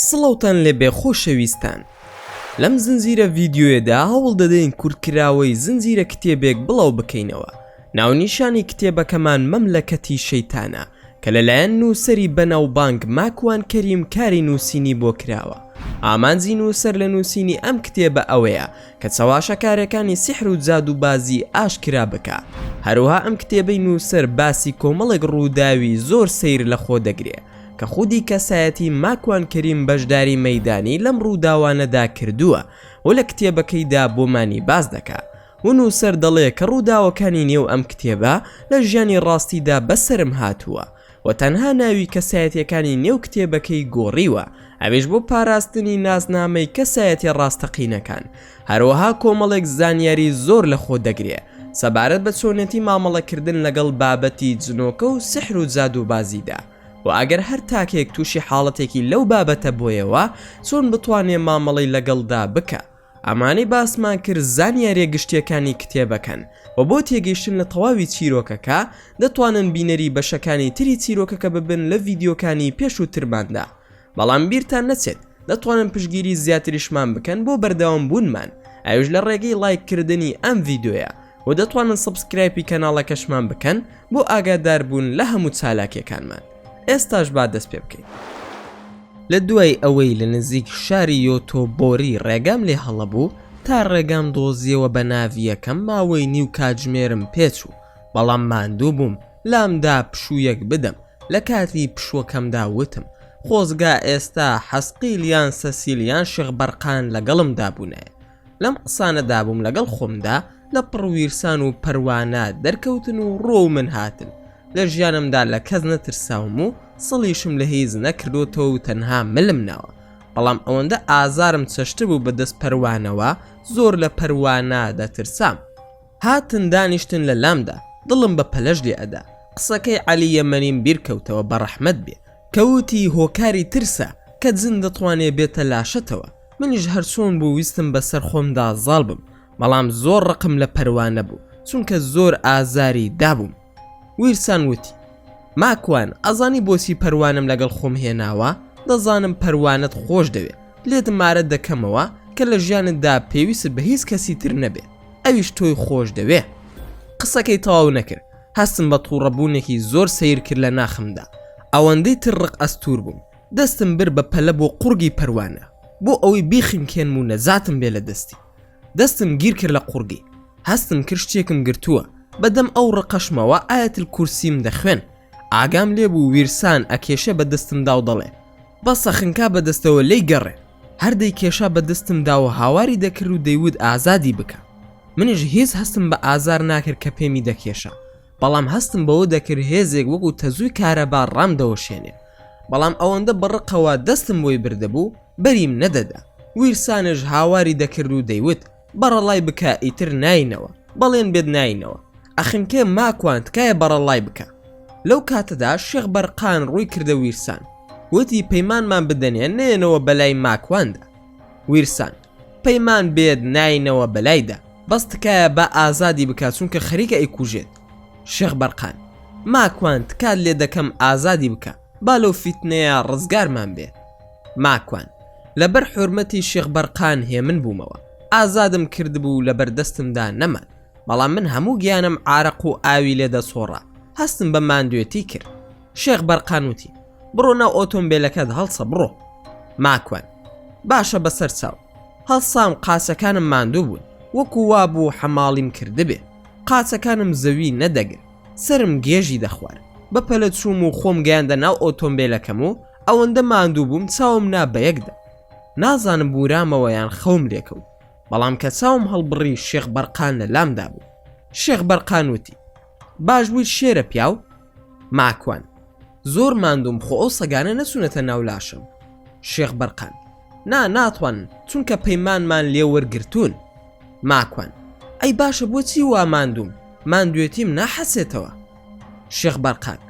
سڵاوتان لێبێ خۆشەویستان لەم زنجیرە ڤیدیۆیەدا هەوڵ دەدەین کورتکراوەی زنجیرە کتێبێک بڵاو بکەینەوە ناونیشانی کتێبەکەمان مەملەکەتی شەیتانە کە لەلایەن نووسەری بەناوبانگ ماکوان کەریم کاری نووسینی بۆ کراوە، ئامانجی نووسەر لە نووسینی ئەم کتێبە ئەوەیە کە چەواشەکارێکانی سیحر و جادووبازی ئاشکرا بکا، هەروەها ئەم کتێبەی نووسەر باسی کۆمەڵێک ڕووداوی زۆر سەیر لە خۆ دەگرێ کە خودی کەسایەتی ماکوان کەریم بەشداری مەیدانی لەم ڕووداوانەدا کردووە و لە کتێبەکەیدا بۆمانی باس دەکا و نووسەر دەڵێ کە ڕووداوەکانی نێو ئەم کتێبە لە ژیانی ڕاستیدا بەسەرم هاتووە و تەنها ناوی کەسایەتییەکانی نێو کتێبەکەی گۆڕیوە ئەویش بۆ پاراستنی ناسنامەی کەسایەتیە ڕاستەقینەکان هەروەها کۆمەڵێک زانیاری زۆر لە خۆ دەگرێ سەبارەت بە چۆنێتی مامەڵەکردن لەگەڵ بابەتی جنۆکە و سحر و جادووبازیدا و ئەگەر هەر تاکێک تووشی حاڵەتێکی لەو بابەتە بۆیەوە چۆن بتوانێ مامەڵەی لەگەڵدا بکا. ئەمانەی باسمان کرد زانیاریە گشتیەکانی کتێبەکەن وە بۆ تێگەیشتن لە تەواوی چیرۆکەکە دەتوانن بینەری بەشەکانی تری چیرۆکەکە ببن لە ڤیدیۆکانی پێشووترماندا بەڵام بیرتان نەچێت دەتوانن پشگیری زیاتریشمان بکەن بۆ بەردەوام بوونمان ئەوش لە ڕێگەی ڵایک کردنی ئەم ڤیدۆیە و دەتوانن سەبسکرایپی کەناڵەکەشمان بکەن بۆ ئاگادار بوون لە هەموو چالاکیەکانمان ئێستاش با دەست پێ بکەین. لە دوای ئەوەی لە نزیک شاری یۆتۆبۆری ڕێگام لێ هەڵەبوو تا ڕێگام دۆزیەوە بە ناڤیەکەم ماوەی نیو کاتژمێرم پێ چوو بەڵام ماندوو بووم لام دا پشوویەک بدەم لە کاتی پشووەکەمدا وتم خۆزگا ئێستا حەسقیل یان سەسیل یان شێخ بەرقان لەگەڵمدا بوونایە لەم قسانەدا بووم لەگەڵ خۆمدا لە پڕ ویرسان و پەروانا دەرکەوتن و ڕۆ و من هاتن لە ژیانمدا لە کەس نەترساوم و سڵیشم لە هیچ نەکردوتەوە و تەنها ملم ناوە بەڵام ئەوەندە ئازارم چەشت بوو بە دەست پەروانەوە زۆر لە پەروانا دەترسام هاتن دانیشتن لە لامدا دڵم بە پەلەش لێ ئەدا قسەکەی عەلی یەمەنیم بیرکەوتەوە بە ڕەحمەت بێ کەوتی هۆکاری ترسە کە جن دەتوانێ بێتە لاشەتەوە منیش هەر چۆن بوو ویستم بەسەر خۆمدا زاڵ بم بەڵام زۆر ڕقم لە پەروانە بوو چونکە زۆر ئازاری دابووم ویرسان وتی ماکوان ئەزانی بۆچی پەروانەم لەگەڵ خۆم هێناوە دەزانم پەروانەت خۆش دەوێ لێت مارە دەکەمەوە کە لە ژیانتدا پێویست بە هیچ کەسی تر نەبێ ئەویش تۆی خۆش دەوێ قسەکەی تەواو نەکرد هەستم بە تووڕەبوونێکی زۆر سیر کرد لە ناخمدا ئەوەندەی تر ڕق ئەستور بووم دەستم برد بە پەلە بۆ قوڕگی پەروانە بۆ ئەوەی بیخنکێنم و نەجاتم بێ لە دەستی. دەستم گیر کرد لە قوڕگی. هەستم کرد شتێکم گرتووە. بە دەم ئەو ڕقەشمەوە ئایەت الکورسیم دەخوێن. ئاگام لێ بوو ویرسان ئەکێشێ بە دەستمدا و دەڵێ، بەسە خنکا بە دەستەوە لێی گەڕێ. هەر دەیکێشا بە دەستمدا و هاواری دەکرد و دەیوت ئازادی بکە. منیش هیچ هەستم بە ئازار ناکرد کە پێمی دەکێشا. بەڵام هەستم بەوە دەکرد هێزێک وەکو تەزووی کارەبا ڕامدەوەشێنێ، بەڵام ئەوەندە بە ڕقەوە دەستم بۆی بردبوو بەریم نەدەدا، ویرسانش هاواری دەکرد و دەیوت بەڕەڵای بکە ئیتر ناینەوە، بەڵێن بێت ناینەوە، ئەخنکێ ماکوان تکایە بەڕەڵای بکە. لەو کاتەدا شێخ بەرقان ڕووی کردە ویرسان، وتی پەیمانمان بدەنێ نەیەنەوە بەلای ماکواندا. ویرسان. پەیمان بێت ناینەوە بەلایدا بەس تکایە با ئازادی بکات چونکە خەریکە ئەیکوژێت شێخ بەرقان ماکوان تکات لێ دەکەم ئازادی بکە با لەو فیتنەیە ڕزگارمان بێ ماکوان لەبەر حورمەتی شێخ بەرقان هێمن بوومەوە ئازادم کردبوو لە بەردەستمدا نەمان بەڵام من هەموو گیانم عارەق و ئاوی لێ دەسۆڕا هەستم بە ماندوێتی کرد شێخ بەرقان وتی، بڕۆ ناو ئۆتۆمبێلەکەت هەڵسە بڕۆ. ماکوان، باشە بەسەر چاو. هەڵسام قاچەکانم ماندوو بوون، وەکو وا بوو حەماڵیم کردبێ. قاچەکانم زەوی نەدەگرت، سەرم گێژی دەخوارد. بە پەلە چووم و خۆم گەیاندە ناو ئۆتۆمبێلەکەم و ئەوەندە ماندوو بووم چاوم نا بە یەکدا. نازانم بوورامەوە یان خەوم لێ کەوت، بەڵام کە چاوم هەڵبڕی شێخ بەرقان لە لامدا بوو. شێخ بەرقان وتی، باش بوویت شێرە پیاو. ماکوان، زۆر ماندووم خۆ ئەو سەگانە نەچوونەتە ناو لاشم. شێخ بەرقان، نا ناتوانن چونکە پەیمانمان لێ وەرگرتوون. ماکوان، ئەی باشە بۆچی وا ماندووم ماندوێتیم ناحەسێتەوە. شێخ بەرقان،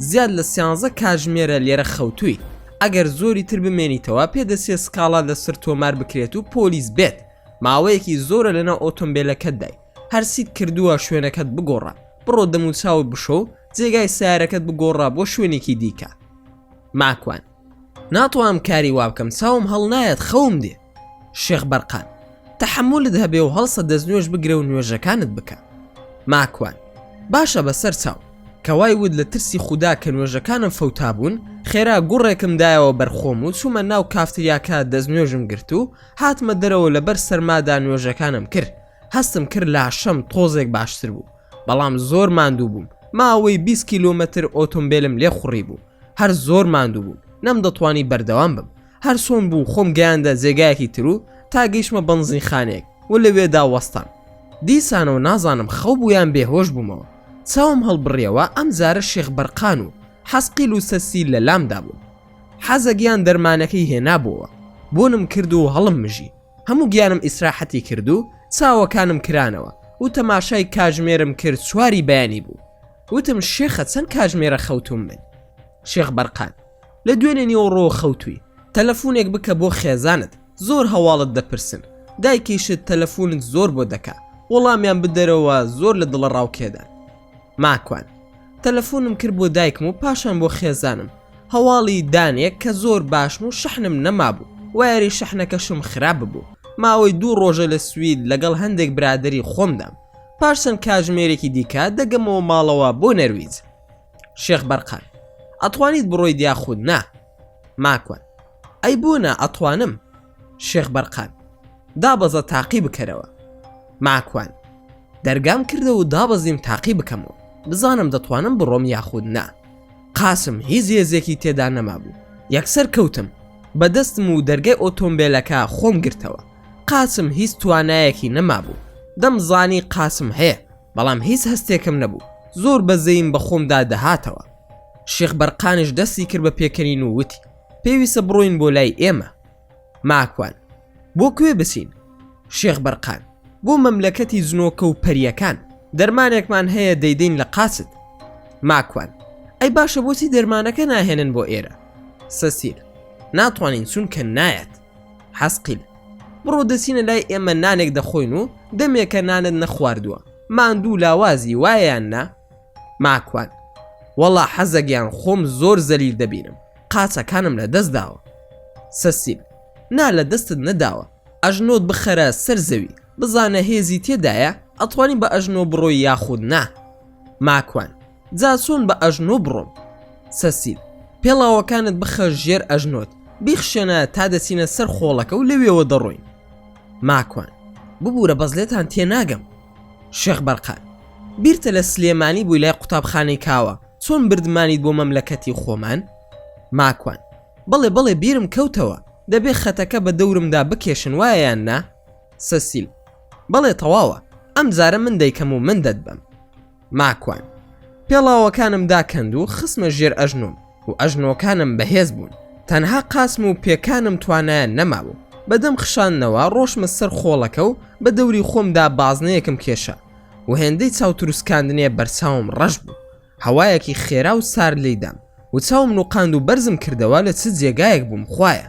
زیاد لە سیانزە کاژمێرە لێرە خەوتوویت ئەگەر زۆری تر بمێنیتەوە پێدەچێ سکاڵا لەسەر تۆمار بکرێت و پۆلیس بێت ماوەیەکی زۆرە لەناو ئۆتۆمبێلەکەتدای. هەر چیت کردووە شوێنەکەت بگۆڕە بڕۆ دەموچاوت بشۆ و جێگای سارەکەت بگۆڕە بۆ شوێنێکی دیکە ماکوان ناتوانم کاری وابکەم چاوم هەڵ نایەت خەوم دێ شێخ بەرقان تەحملت هەبێ و هەڵسە دەست نوێش بگرە و نوێژەکانت بکە ماکوان باشە بەسەر چاو کەوای ود لە ترسی خوددا کە نوێژەکانم فەوتا بوون خێرا گوڕێکم دایەوە بەرخۆم و چوومە ناو کافتریاکە دەست نوێژم گرت و هاتمە دەرەوە لەبەر سەرمادا نوێژەکانم کرد هەستم کرد لاشەم تۆزێک باشتر بوو بەڵام زۆر ماندوو بووم ماوەی 20 کیلومەتر ئۆتۆمبیلم لێ خوڕی بوو هەر زۆر ماندوو بوو نەم دەتوانی بەردەوام بم هەر سۆن بوو خۆم گەیاندە جێگایەکی تر و تا گەیشمە بەنزین خانێک و لەوێدا وەستان دیسانەوە نازانم خەو بوویان بێهۆش بوومەوە چاوم هەڵبڕیەوە ئەم جارە شێخ بەرقان و حەسقیل و سەسی لە لامدا بوون حەزەگیان دەرمانەکەی هێنابووەوە بۆنم کرد و هەڵم مژی هەموو گیانم ئیسراحەتی کرد و چاوەکانم کرانەوە و تەماشای کاژمێرم کرد چواری بەیانی بوو وتم شێخە چەند کاژمێرە خەوتوم من شێخ بەرقان لە دوێنێ نیوەڕۆ خەوتوی تەلەفونێک بکە بۆ خێزانت زۆر هەواڵت دەپرسن دایکیشت تەلەفونت زۆر بۆ دەکا وەڵامیان بدەرەوە زۆر لە دڵە ڕاوکێدان ماکوان تەلەفونم کرد بۆ دایکم و پاشان بۆ خێزانم هەواڵی دانێک کە زۆر باشم و شەحنم نەمابوو وایەری شەحنەکەشم خراپ ببوو ماوەی دوو ڕۆژە لە سوید لەگەڵ هەندێک برادری خۆمدام پاش چەند کاژمێرێکی دیکە دەگەمەوە ماڵەوە بۆ نەرویج شێخ بەرقان ئەتوانیت بڕۆیت یاخود نا ماکوان ئەی بۆ نا ئەتوانم شێخ بەرقان، دابەزە تاقی بکەرەوە. ماکوان، دەرگام کردەوە و دابەزیم تاقی بکەمەوە، بزانم دەتوانم بڕۆم یاخود نا. قاسم، هیچ هێزێکی تێدا نەمابوو، یەکسەر کەوتم، بە دەستم و دەرگای ئۆتۆمبێلەکە خۆم گرتەوە. قاسم هیچ توانایەکی نەمابوو، دەمزانی قاسم هەیە، بەڵام هیچ هەستێکم نەبوو، زۆر بەزەییم بە خۆمدا دەهاتەوە. شێخ بەرقانیش دەستی کرد بە پێکەنین و وتی. پێویستە بڕۆین بۆ لای ئێمە ماکوان بۆ کوێ بچین شێخ بەرقان بۆ مەملەکەتی جنۆکە و پەریەکان دەرمانێکمان هەیە دەیدەین لە قاچت ماکوان ئەی باشە بۆچی دەرمانەکە ناهێنن بۆ ئێرە سەسیر ناتوانین چونکە نایەت حەسقیل بڕۆ دەچینە لای ئێمە نانێک دەخۆین و دەمێکە نانت نەخواردووە ماندوو لاوازی وایەن نا ماکوان، وەڵا حەزە گیان خۆم زۆر زەلیل دەبینم قاچەکانم لە دەست داوە. سەسیل، نا لە دەستت نەداوە ئەژنۆت بخەرە سەر زەوی بزانە هێزی تێدایە ئەتوانی بە ئەژنۆ بڕۆی یاخود نا. ماکوان، جا چۆن بە ئەژنۆ بڕۆم. سەسیل، پێڵاوەکانت بخە ژێر ئەژنۆت بیخشێنە تا دەچینە سەر خۆڵەکە و لەوێوە دەڕۆین. ماکوان، ببورە بەس لێتان تێناگەم. شێخ بەرقان بیرتە لە سلێمانی بووی لای قوتابخانەی کاوە چۆن بردمانیت بۆ مەملەکەتی خۆمان؟ ماکوان بەڵێ بەڵێ بیرم کەوتەوە دەبێ خەتەکە بە دەورمدا بکێشن وایە یان نا؟ سەسیل بەڵێ تەواوە ئەمجارە من دەیکەم و من دەتبەم. ماکوان پێڵاوەکانم داکەند و خسمە ژێر ئەژنۆم و ئەژنۆکانم بەهێز بوون تەنها قاسم و پێکانم توانایان نەمابوو بەدەم خشانەوە ڕۆشمە سەر خۆڵەکە و بە دەوری خۆمدا بازنەیەکم کێشە و هێندەی چاوتروسکاندنێ بەرچاوم ڕەش بوو هەوایەکی خێرا و سار لیدام و چاوم نوقاند و بەرزم کردەوە لە چ جێگایەک بووم خویە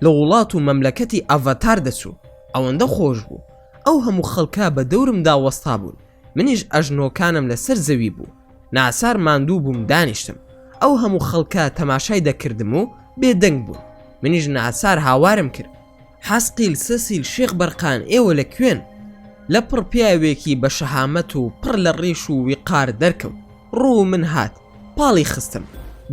لە وڵات و مەملەکەتی ئەڤەتار دەچوو ئەوەندە خۆش بوو ئەو هەموو خەڵکە بە دەورمدا وەستا بوون منیش ئەژنۆکانم لەسەر زەوی بوو ناسار ماندوو بووم دانیشتم ئەو هەموو خەڵکە تەماشای دەکردم و بێدەنگ بوون منیش ناسار هاوارم کرد حەسقیل سەسیل شێخ بەرقان ئێوە لە کوێن لە پڕ پیاوێکی بە شەهامەت و پڕ لە ڕیش و ویقار دەرکەوت ڕوو من هات پاڵی خستم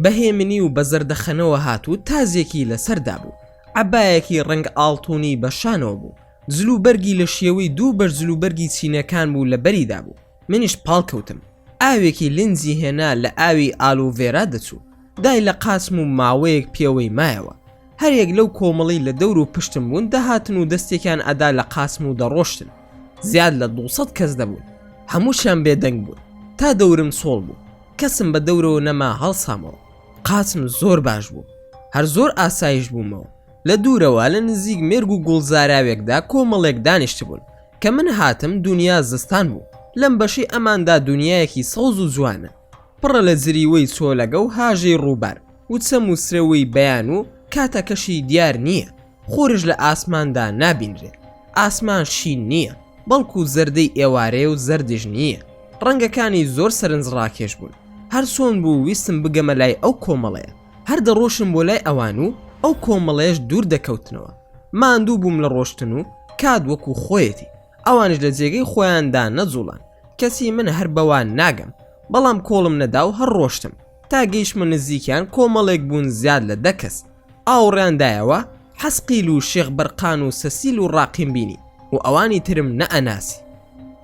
بەهێمنی و بە زەردەخەنەوە هات و تازێکی لەسەردا بوو عبایەکی ڕنگ ئاڵتونی بەشانەوە بوو جلوبەرگی لە شێوەی دوو بەش جلوبەرگی چینەکان بوو لە بەریدا بوو منیش پاڵکەوتم ئاوێکی لنجی هێنا لە ئاوی ئالوڤێرا دەچوو دای لە قاچم و ماوەیەک پێوەی مایەوە هەریەک لەو کۆمەڵەی لە دەور و پشتم بوون دەهاتن و دەستێکیان ئەدا لە قاچم و دەڕۆشتن زیاد لە دوو سەد کەس دەبوون هەمووشیان بێدەنگ بوون تا دەورم چۆڵ بوو کەسم بە دەورەوە نەما هەڵسامەوە قاچم زۆر باش بوو هەر زۆر ئاسایش بوومەوە لە دوورەوە لە نزیک مێرگ و گوڵ زاراوێکدا کۆمەڵێک دانیشتبوون کە من هاتم دونیا زستان بوو لەم بەشەی ئەماندا دونیایەکی سەوز و جوانە پڕە لە جریوەی چۆلەگە و هاژەی ڕووبار و چەم و سرەوەی بەیان و کاتەکەشی دیار نییە خۆرش لە ئاسماندا نابینرێ ئاسمان شین نییە بەڵکو زەردەی ئێوارەیە و زەردیش نییە ڕەنگەکانی زۆر سەرنجڕاکێش بوون هەرچۆن بوو ویستم بگەمە لای ئەو کۆمەڵەیە هەر دەڕۆشم بۆ لای ئەوان و ئەو کۆمەڵەیەش دوور دەکەوتنەوە ماندوو بووم لە ڕۆشتن و کات وەکو خۆیەتی ئەوانش لە جێگەی خۆیاندا نەجوڵان کەچی من هەر بەوان ناگەم بەڵام کۆڵم نەدا و هەر ڕۆشتم تا گەیشمە نزیکیان کۆمەڵێک بوون زیاد لە دە کەس ئاوڕیان دایەوە حەسقیل و شێخ بەرقان و سەسیل و ڕاقیم بینی و ئەوانی ترم نەئەناسی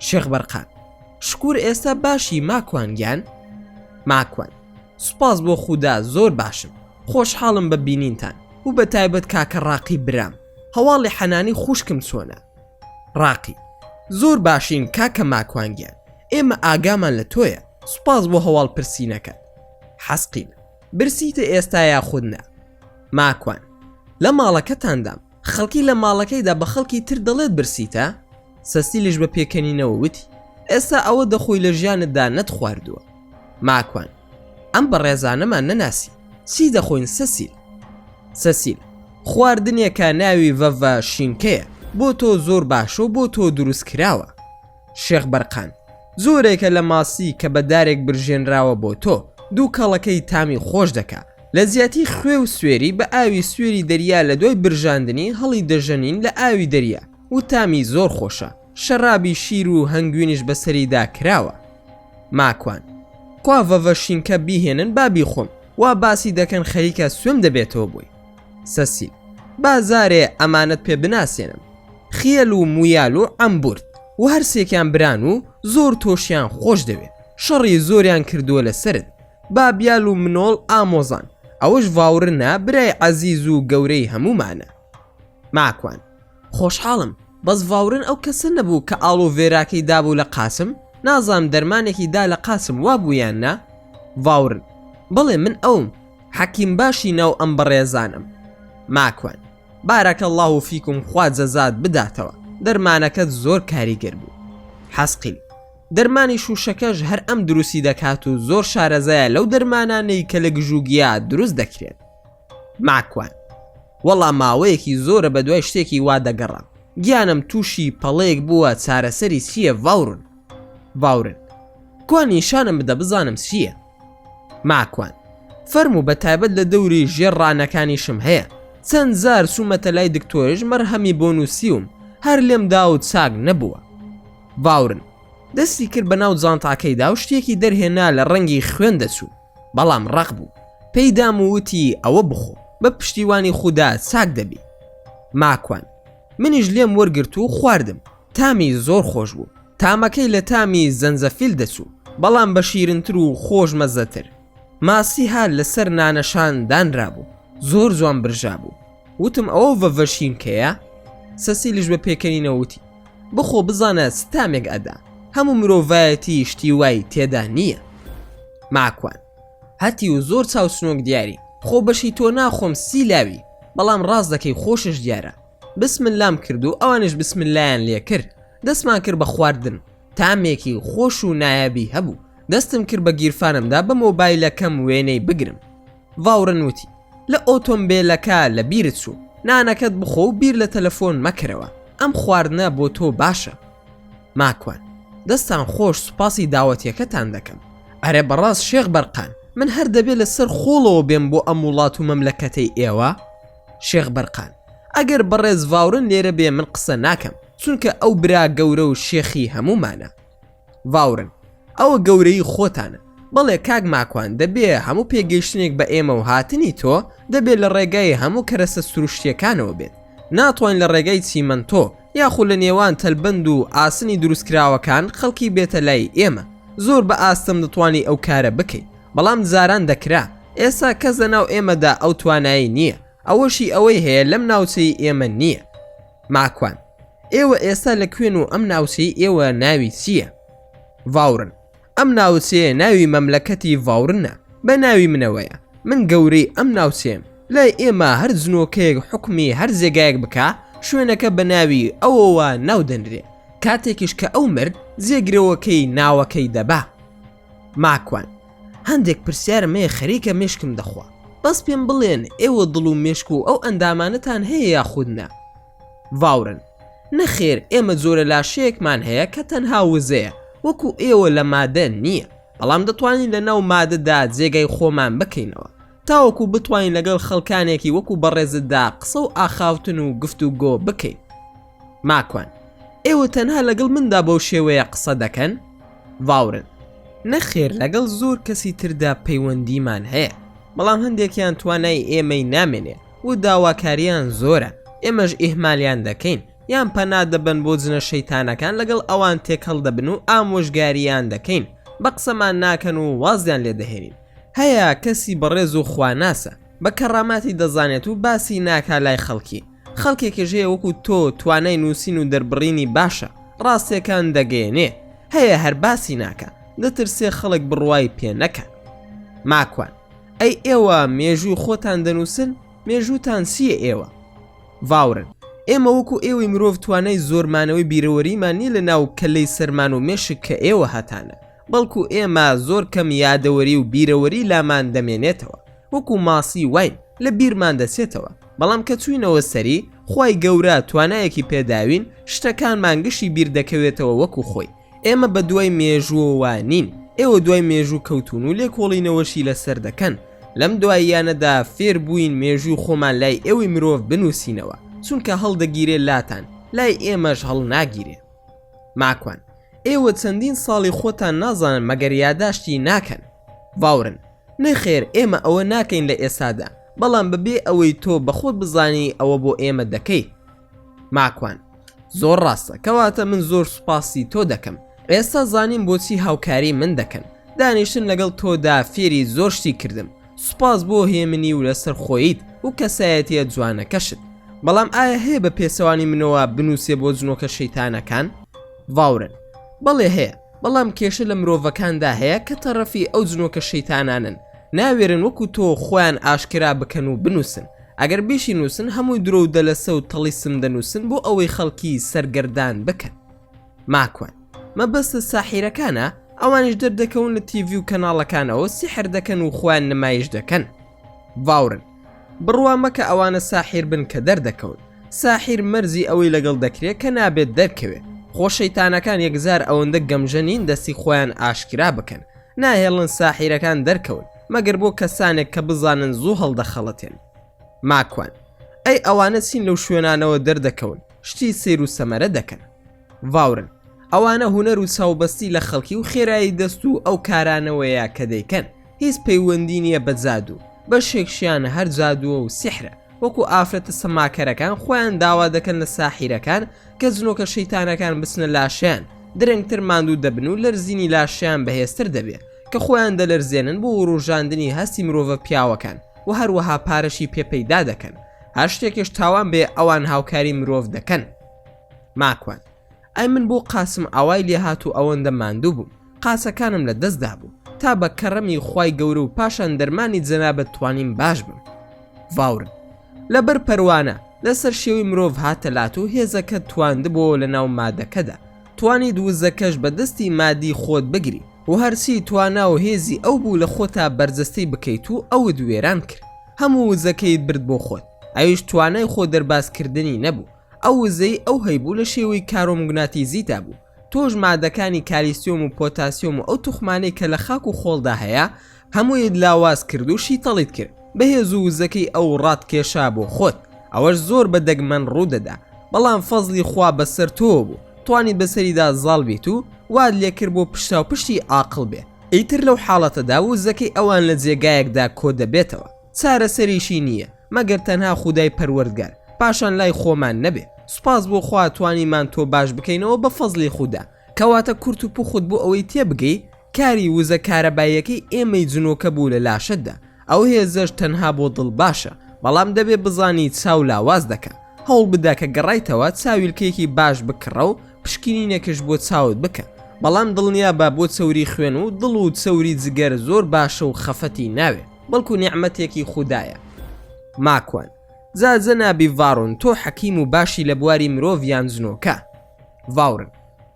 شێخ بەرقان شکور ئێستا باشی ماکوان گیان ماکوان سوپاس بۆ خودا زۆر باشم خۆشحاڵم بە بینینتان و بە تایبەت کاکە ڕاقی برام هەواڵی حەنانی خوشکم چۆنە؟ ڕاقی، زۆر باشین کاکە ماکوان گیان ئێمە ئاگامان لە تۆیە سوپاس بۆ هەواڵ پرسینەکەت حەسقین، برسیتە ئێستا یاخود نا؟ ماکوان، لە ماڵەکەتاندام. خەڵکی لە ماڵەکەیدا بە خەڵکی تر دەڵێت برسیتا، سەسیلیش بە پێکەنینەوە وتی، ئێستا ئەوە دەخۆی لە ژیانتدا نەتخواردووە. ماکوان، ئەم بەڕێزانەمان نەناسی، چی دەخۆین سەسیل؟ سەسیل، خواردنێکە ناوی ڤەڤە شینکەیە، بۆ تۆ زۆر باشە و بۆ تۆ دروستکراوە. شێخ بەرقان زۆرێکە لە ماسی کە بە دارێک برژێنراوە بۆ تۆ دوو کەڵەکەی تامی خۆش دەکا لە زیاتی خوێ و سوێری بە ئاوی سوێری دەریا لە دوای برژاندنی هەڵی دەژەنین لە ئاوی دەریا و تامی زۆر خۆشە شەرابی شیر و هەنگوینش بەسەریدا کراوە ماکوان کوا ڤەڤە شینکە بیهێنن بابی خۆم وا باسی دەکەن خەریکە سوێم دەبێتەوە بووی سەسیل، با جارێ ئەمانەت پێ بناسێنم، خیەل و مویال و عەمبورد و هەرسێکیان بران و زۆر تۆشیان خۆش دەوێ، شەڕی زۆریان کردووە لە سەرت، بابیال و منۆڵ ئامۆزان، ئەوەش ڤاورنە برای عەزیز و گەورەی هەموومانە. ماکوان. خۆشحاڵم بەس ڤاورن ئەو کەسە نەبوو کە ئاڵۆ ڤێراکەی دابوو لە قاسم نازانم دەرمانێکی دا لە قاسم وابوو یان نا ڤاورن بەڵێ من ئەوم حەکیم باشی ناو ئەم بەڕێزانەم ماکوان بارەکە اللە و فیکم خوا جەزات بداتەوە دەرمانەکەت زۆر کاریگەر بوو حەسقیل دەرمانی شوشەکەش هەر ئەم دروستی دەکات و زۆر شارەزایە لەو دەرمانانەی کە لە گژوگیا دروست دەکرێن ماکوان، وەڵا ماوەیەکی زۆرە بەدوای شتێکی وا دەگەڕام گیانم تووشی پەڵەیەک بووە چارەسەری چییە ڤاورن؟ ڤاورن، کوا نیشانم بدە بزانم چییە؟ ماکوان، فەرموو بە تایبەت لە دەوری ژێر ڕانەکانیشم هەیە چەند جار چوومەتە لای دکتۆرش مەرهەمی بۆ نووسیوم هەر لێم دا و چاک نەبووە. ڤاورن، دەستی کرد بەناو جانتاکەیدا و شتێکی دەرهێنا لە ڕەنگی خوێن دەچوو. بەڵام ڕەق بوو پێی دام و وتی ئەوە بخۆ بە پشتیوانی خودا چاک دەبی ماکوان منیش لێم وەرگرت و خواردم تامی زۆر خۆش بوو تامەکەی لە تامی زەنجەفیل دەچوو بەڵام بە شیرنتر و خۆش مەزەتر ماسی هار لەسەر نانەشان دانرابوو زۆر جوان برژابوو وتم ئەوە ڤەڤەشین کەیە سەسیلیش بە پێکەنینە وتی بخۆ بزانە ستامێک ئەدا هەموو مرۆڤایەتی شتی وای تێدا نییە ماکوان هەتی و زۆر چاوسنۆک دیاری خۆ بەشی تۆ ناخۆم سی لاوی بەڵام ڕاست دەکەی خۆشش دیارە بسمن لام کرد و ئەوانش بسمن لایەن لێ کرد دەستمان کرد بە خواردن تامێکی خۆش و نایابی هەبوو دەستم کرد بە گیرفانمدا بە مۆبایلەکەم وێنەی بگرم ڤاورن وتی، لە ئۆتۆمبێلەکە لەبیرت چوو، نانەکەت بخۆ و بیر لە تەلەفۆن مەکەرەوە، ئەم خواردنە بۆ تۆ باشە. ماکوان، دەستتان خۆش، سوپاسی داوەتیەکەتان دەکەم. ئەرێ بەڕاست شێخ بەرقان، من هەر دەبێ لە سەر خۆڵەوە بێم بۆ ئەم وڵات و مەملەکەتەی ئێوە؟ شێخ بەرقان، ئەگەر بەڕێز ڤاورن لێرە بێ من قسە ناکەم، چونکە ئەو برا گەورە و شێخی هەموومانە. ڤاورن ئەوە گەورەی خۆتانە. بەڵێ کاک ماکوان دەبێ هەموو پێگەیشتنێک بە ئێمە و هاتنی تۆ دەبێ لە ڕێگای هەموو کەرەستە سروشتییەکانەوە بێت ناتوانین لە ڕێگای چیمەنتۆ یاخو لە نێوان تەلبەند و ئاسنی دروستکراوەکان خەڵکی بێتە لای ئێمە زۆر بە ئاستەم دەتوانی ئەو کارە بکەی بەڵام جاران دەکرا ئێسا کەس لە ناو ئێمەدا ئەو توانایی نییە ئەوەشی ئەوەی هەیە لەم ناوچەی ئێمە نییە ماکوان ئێوە ئێستا لە کوێن و ئەم ناوچەی ئێوە ناوی چییە؟ ڤاورن ئەم ناوچەیە ناوی مەملەکەتی ڤاورنە بە ناوی منەوەیە من گەورەی ئەم ناوچەیەم لای ئێمە هەر جنۆکەیەک حکومی هەر جێگایەک بکە شوێنەکە بە ناوی ئەوەوە ناو دەنرێ کاتێکیش کە ئەو مرد جێگرەوەکەی ناوەکەی دەبا ماکوان، هەندێک پرسیارم هەیە خەریکە مێشکم دەخوا، بەس پێم بڵێن ئێوە دڵ و مێشک و ئەو ئەندامانەتان هەیە یاخود نا؟ ڤاورن، نەخێر ئێمە جۆرە لاشەیەکمان هەیە کە تەنها وزەیە وەکو ئێوە لە مادە نییە، بەڵام دەتوانین لەناو مادەدا جێگای خۆمان بکەینەوە تاوەکو بتوانین لەگەڵ خەڵکانێکی وەکو بەڕێزتدا قسە و ئاخاوتن و گفتوگۆ بکەین. ماکوان، ئێوە تەنها لەگەڵ مندا بەو شێوەیە قسە دەکەن؟ ڤاورن، نەخێر لەگەڵ زۆر کەسی تردا پەیوەندیمان هەیە، بەڵام هەندێکیان توانای ئێمەی نامێنێ و داواکاریان زۆرە، ئێمەش ئیهمالیان دەکەین یان پەنا دەبەن بۆ جنە شەیتانەکان لەگەڵ ئەوان تێکەڵ دەبن و ئامۆژگاریان دەکەین بە قسەمان ناکەن و وازیان لێ دەهێنین. هەیە کەسی بەڕێز و خواناسە، بە کەڕاماتی دەزانێت و باسی ناکا لای خەڵکی، خەڵکێکیش هەیە وەکو تۆ توانای نووسین و دەربڕینی باشە ڕاستیەکان دەگەیەنێ هەیە هەر باسی ناکە دەترسێ خەڵک بڕوای پێ نەکەن ماکوان ئەی ئێوە مێژووی خۆتان دەنووسن مێژووتان چییە ئێوە ڤاورن ئێمە وەکو ئێوەی مرۆڤ توانای زۆرمانەوەی بیرەوەریمان نیە لە ناو کەلەی سەرمان و مێشک کە ئێوە هەتانە بەڵکو ئێمە زۆر کەم یادەوەری و بیرەوەری لامان دەمێنێتەوە وەکو ماسی واین لە بیرمان دەچێتەوە بەڵام کە چوینەوە سەری خوای گەورە توانایەکی پێداوین شتەکانمان گشی بیر دەکەوێتەوە وەکو خۆی ئێمە بە دوای مێژووەوە نین ئێوە دوای مێژوو کەوتون و لێکۆڵینەوەشی لەسەر دەکەن لەم دواییانەدا فێر بووین مێژووی خۆمان لای ئێوەی مرۆڤ بنووسینەوە چونکە هەڵدەگیرێ لاتان لای ئێمەش هەڵ ناگیرێ ماکوان ئێوە چەندین ساڵی خۆتان نازانن مەگەر یاداشتی ناکەن باورن نەخێر ئێمە ئەوە ناکەین لە ئێستادا بەڵام بەبێ ئەوەی تۆ بەخۆت بزانی ئەوە بۆ ئێمە دەکەی ماکوان زۆر ڕاستە کەواتە من زۆر سوپاسی تۆ دەکەم ئێستا زانیم بۆچی هاوکاری من دەکەن دانیشتن لەگەڵ تۆدا فێری زۆر شتی کردم سوپاس بۆ هێمنی و لەسەر خۆیت و کەسایەتە جوانەکەشت بەڵام ئایا هەیە بە پێچەوانی منەوە بنووسێ بۆ جنۆکە شەیتانەکان ڤاورن بەڵێ هەیە بەڵام کێشە لە مرۆڤەکاندا هەیە کە تەڕەفی ئەو جنۆکە شەیتانانەن ناوێرن وەکو تۆ خۆیان ئاشکرا بکەن و بنووسن ئەگەر بیشی نووسن هەمووی درۆ و دەلەسە و تەڵیسم دەنووسن بۆ ئەوەی خەڵکی سەرگەردان بکەن ماکوان مەبەستت ساحیرەکانە ئەوانیش دەردەکەون لە تیڤی و کەناڵەکانەوە سیحر دەکەن و خۆیان نمایش دەکەن. ڤاورن بڕوا مەکە ئەوانە ساحیر بن کە دەردەکەون ساحیر مەرزی ئەوەی لەگەڵ دەکرێت کە نابێت دەرکەوێ خۆ شەیتانەکان یەکجار ئەوەندە گەمژە نین دەستی خۆیان ئاشکرا بکەن ناهێڵن ساحیرەکان دەرکەون مەگەر بۆ کەسانێک کە بزانن زوو هەڵدەخەڵەتێن ماکوان ئەی ئەوانە چین لەو شوێنانەوە دەردەکەون شتی سیر و سەمەرە دەکەن ڤاورن ئەوانە هوەر و چاوبەستی لە خەڵکی و خێرایی دەست و ئەو کارانەوەیە کە دەیکەن هیچ پەیوەندی نیە بە جادوو بەشێک شیانە هەر جادووە و سیحرە وەکو ئافرەتە سەماکەرەکان خۆیان داوا دەکەن لە ساحیرەکان کە جنۆکە شەیتانەکان بچنە لاشیان درەنگتر ماندوو دەبن و لەرزینی لاشیان بەهێزتر دەبێ کە خۆیان دەلەرزێنن بۆ وروژاندنی هەستی مرۆڤە پیاوەکان و هەروەها پارەشی پێ پەیدا دەکەن هەر شتێکش تاوان بێ ئەوان هاوکاری مرۆڤ دەکەن ماکوان ئەی من بۆ قاسم ئاوای لێهات و ئەوەندە ماندوو بووم قاسەکانم لە دەست دابوو تا بە کەڕەمی خوای گەورە و پاشان دەرمانی جەنابەت توانیم باش بم ڤاورن لەبەر پەروانە لەسەر شێوی مرۆڤ هاتە لات و هێزەکە تواندبووەوە لە ناو مادەکەدا توانی دووزەکەش بە دەستی مادی خۆت بگری و هەرچی توانا و هێزی ئەو بوو لە خۆتا بەرجەستەی بکەیت و ئەوت وێران کرد هەموو وزەکەیت برد بۆ خۆت ئەویش توانای خۆ دەربازکردنی نەبوو ئەو وزەی ئەو هەیبوو لە شێوەی کارۆمگناتیزیدا بوو، تۆش مادەکانی کالیسیۆم و پۆتاسیۆم و ئەو توخمانەی کە لە خاک و خۆڵدا هەیە هەموویت لاواز کرد و شیتەڵیت کرد، بەهێز و وزەکەی ئەو ڕات کێشا بۆ خۆت، ئەوەش زۆر بە دەگمەن ڕوو دەدا، بەڵام فەزڵی خوا بە سەر تۆوە بوو، توانیت بە سەریدا زاڵ بیت و وات لێ کرد بۆ پشتاوپشتی ئاقڵ بێ. ئیتر لەو حاڵەتەدا وزەکەی ئەوان لە جێگایەکدا کۆ دەبێتەوە. چارەسەریشی نییە مەگەر تەنها خودای پەروەردگار پاشان لای خۆمان نەبێ سوپاس بۆ خوا توانیمان تۆ باش بکەینەوە بە فەزڵی خودا. کەواتە کورت و پوخت بۆ ئەوەی تێبگەی کاری وزە کارەباییەکەی ئێمەی جنۆکە بوو لە لاشەتدا ئەو هێزەش تەنها بۆ دڵ باشە بەڵام دەبێ بزانی چاو لاواز دەکا هەوڵ بدە کە گەڕایتەوە چاویلکەیەکی باش بکڕە و پشکینینێکش بۆ چاوت بکە بەڵام دڵنیابە بۆ چەوری خوێن و دڵ و چەوری جگەر زۆر باشە و خەفەتی ناوێ. بەڵکو نیعمەتێکی خودایە ماکوان جا جەنابی ڤاڕۆن تۆ حەکیم و باشی لە بواری مرۆڤ یان جنۆکە؟ ڤاورن،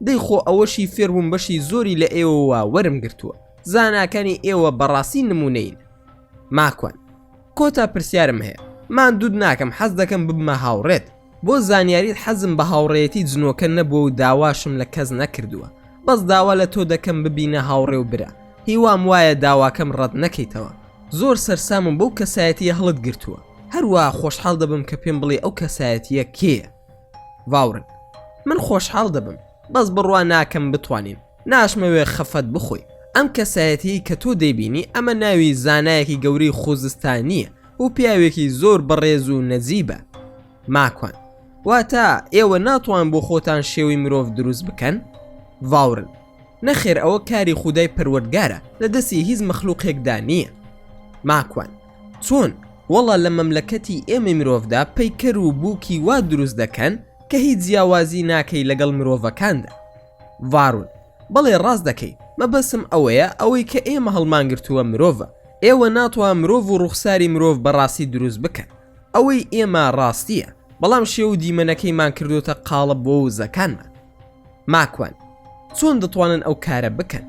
دەی خۆ ئەوەشی فێربووم بەشی زۆری لە ئێوەوە وەرم گرتووە زاناکانی ئێوە بەڕاستی نموونەین ماکوان، کۆتا پرسیارم هەیە ماندووت ناکەم حەز دەکەم ببمە هاوڕێت. بۆ زانیاریت حەزم بە هاوڕێیەتی جنۆکە نەبووە و داواشم لە کەس نەکردووە بەس داوا لە تۆ دەکەم ببینە هاوڕێ و برا هیوام وایە داواکەم ڕەت نەکەیتەوە زۆر سەرسامم بەو کەسایەتیە هەڵت گرتووە هەروەها خۆشحاڵ دەبم کە پێم بڵێ ئەو کەسایەتیە کێیە؟ ڤاورن من خۆشحاڵ دەبم بەس بڕوا ناکەم بتوانین. ناشمەوێ خەفەت بخۆی ئەم کەسایەتیەی کە تۆ دەیبینی ئەمە ناوی زانایەکی گەورەی خوزستانیە و پیاوێکی زۆر بەڕێز و نەجیبە ماکوان واتا ئێوە ناتوان بۆ خۆتان شێوەی مرۆڤ دروست بکەن ڤاورن نەخێر ئەوە کاری خودای پەروەردگارە لە دەستی هیچ مەخلوقێکدا نییە ماکوان چۆن وەڵا لە مەملەکەتی ئێمەی مرۆڤدا پەیکەر و بووکی وا دروست دەکەن کە هیچ جیاوازی ناکەی لەگەڵ مرۆڤەکاندا ڤارون، بەڵێ ڕاست دەکەی، مەبەستم ئەوەیە ئەوەی کە ئێمە هەڵمانگرتووە مرۆڤە، ئێوە ناتوان مرۆڤ و ڕووخساری مرۆڤ بە ڕاستی دروست بکەن، ئەوەی ئێمە ڕاستییە، بەڵام شێوە و دیمەنەکەیمان کردۆتە قاڵب بۆ وزەکانمان. ماکوان، چۆن دەتوانن ئەو کارە بکەن؟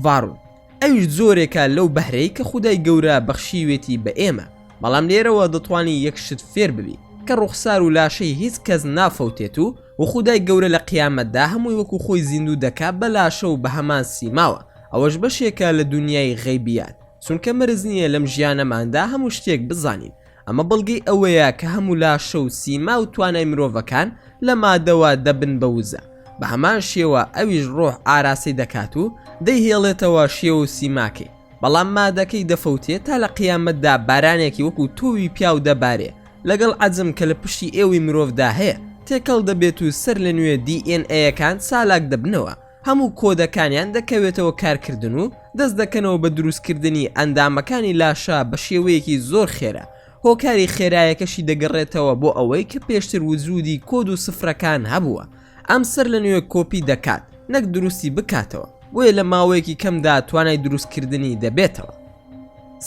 ڤارون. ئەویش جۆرێکە لەو بەهرەی کە خودای گەورە بەخشیوێتی بە ئێمە بەڵام لێرەوە دەتوانی یەک شت فێر ببی کە ڕوخسار و لاشەی هیچ کەس نافەوتێت و و خودای گەورە لە قیامەتدا هەمووی وەکو خۆی زیندوو دەکا بە لاشە و بە هەمان سیماوە ئەوەش بەشێکە لە دونیای غەیبیات چونکە مەرج نییە لەم ژیانەماندا هەموو شتێک بزانین ئەمە بەڵگەی ئەوەیە کە هەموو لاشە و سیما و توانای مرۆڤەکان لە مادەوە دەبن بە وزە، بە هەمان شێوە ئەویش ڕۆح ئاراسی دەکات و دەیهێڵێتەوە شێوە و سیماکەی، بەڵام مادەکەی دەفەوتێ تا لە قیامەتدا بارانێکی وەکوو تۆوی پیاو دەبارێ لەگەڵ عەجم کە لە پشتی ئێوەی مرۆڤدا هەیە تێکەڵ دەبێت و سەرلەنوێ دی ئێن ئەیەکان چالاک دەبنەوە. هەموو کۆدەکانیان دەکەوێتەوە کارکردن و دەست دەکەنەوە بە دروستکردنی ئەندامەکانی لاشە بە شێوەیەکی زۆر خێرا، هۆکاری خێرایەکەشی دەگەڕێتەوە بۆ ئەوەی کە پێشتر وجودی کۆد و سفرەکان هەبووە ئەم سەر لە نوێ کۆپی دەکات نەک دروستی بکاتەوە بۆیە لە ماوەیەکی کەمدا توانای دروستکردنی دەبێتەوە.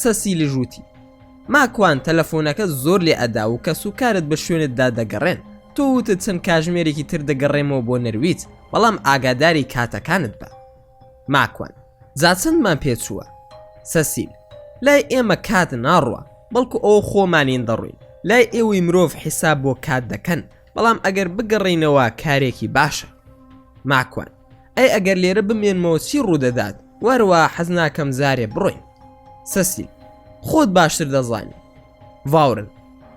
سەسیلژ وتی، ماکوان تەلەفۆنەکە زۆر لێ ئەدا و کەس و کارت بە شوێنت دا دەگەڕێن تۆ وتت چەند کاژمێرێکی تر دەگەڕێمەوە بۆ نەرویج بەڵام ئاگاداری کاتەکانت بە ماکوان جا چەندمان پێچووە سەسیل لای ئێمە کات ناڕوا بەڵکو ئەوە خۆمانین دەڕوین لای ئێوەی مرۆڤ حیساب بۆ کات دەکەن بەڵام ئەگەر بگەڕینەوە کارێکی باشە ماکوان ئەی ئەگەر لێرە بمێنمەوە چی ڕوودەدات وەرەوە حەز ناکەم زارێ بڕۆین سەسیل خۆت باشتر دەزانی ڤاورن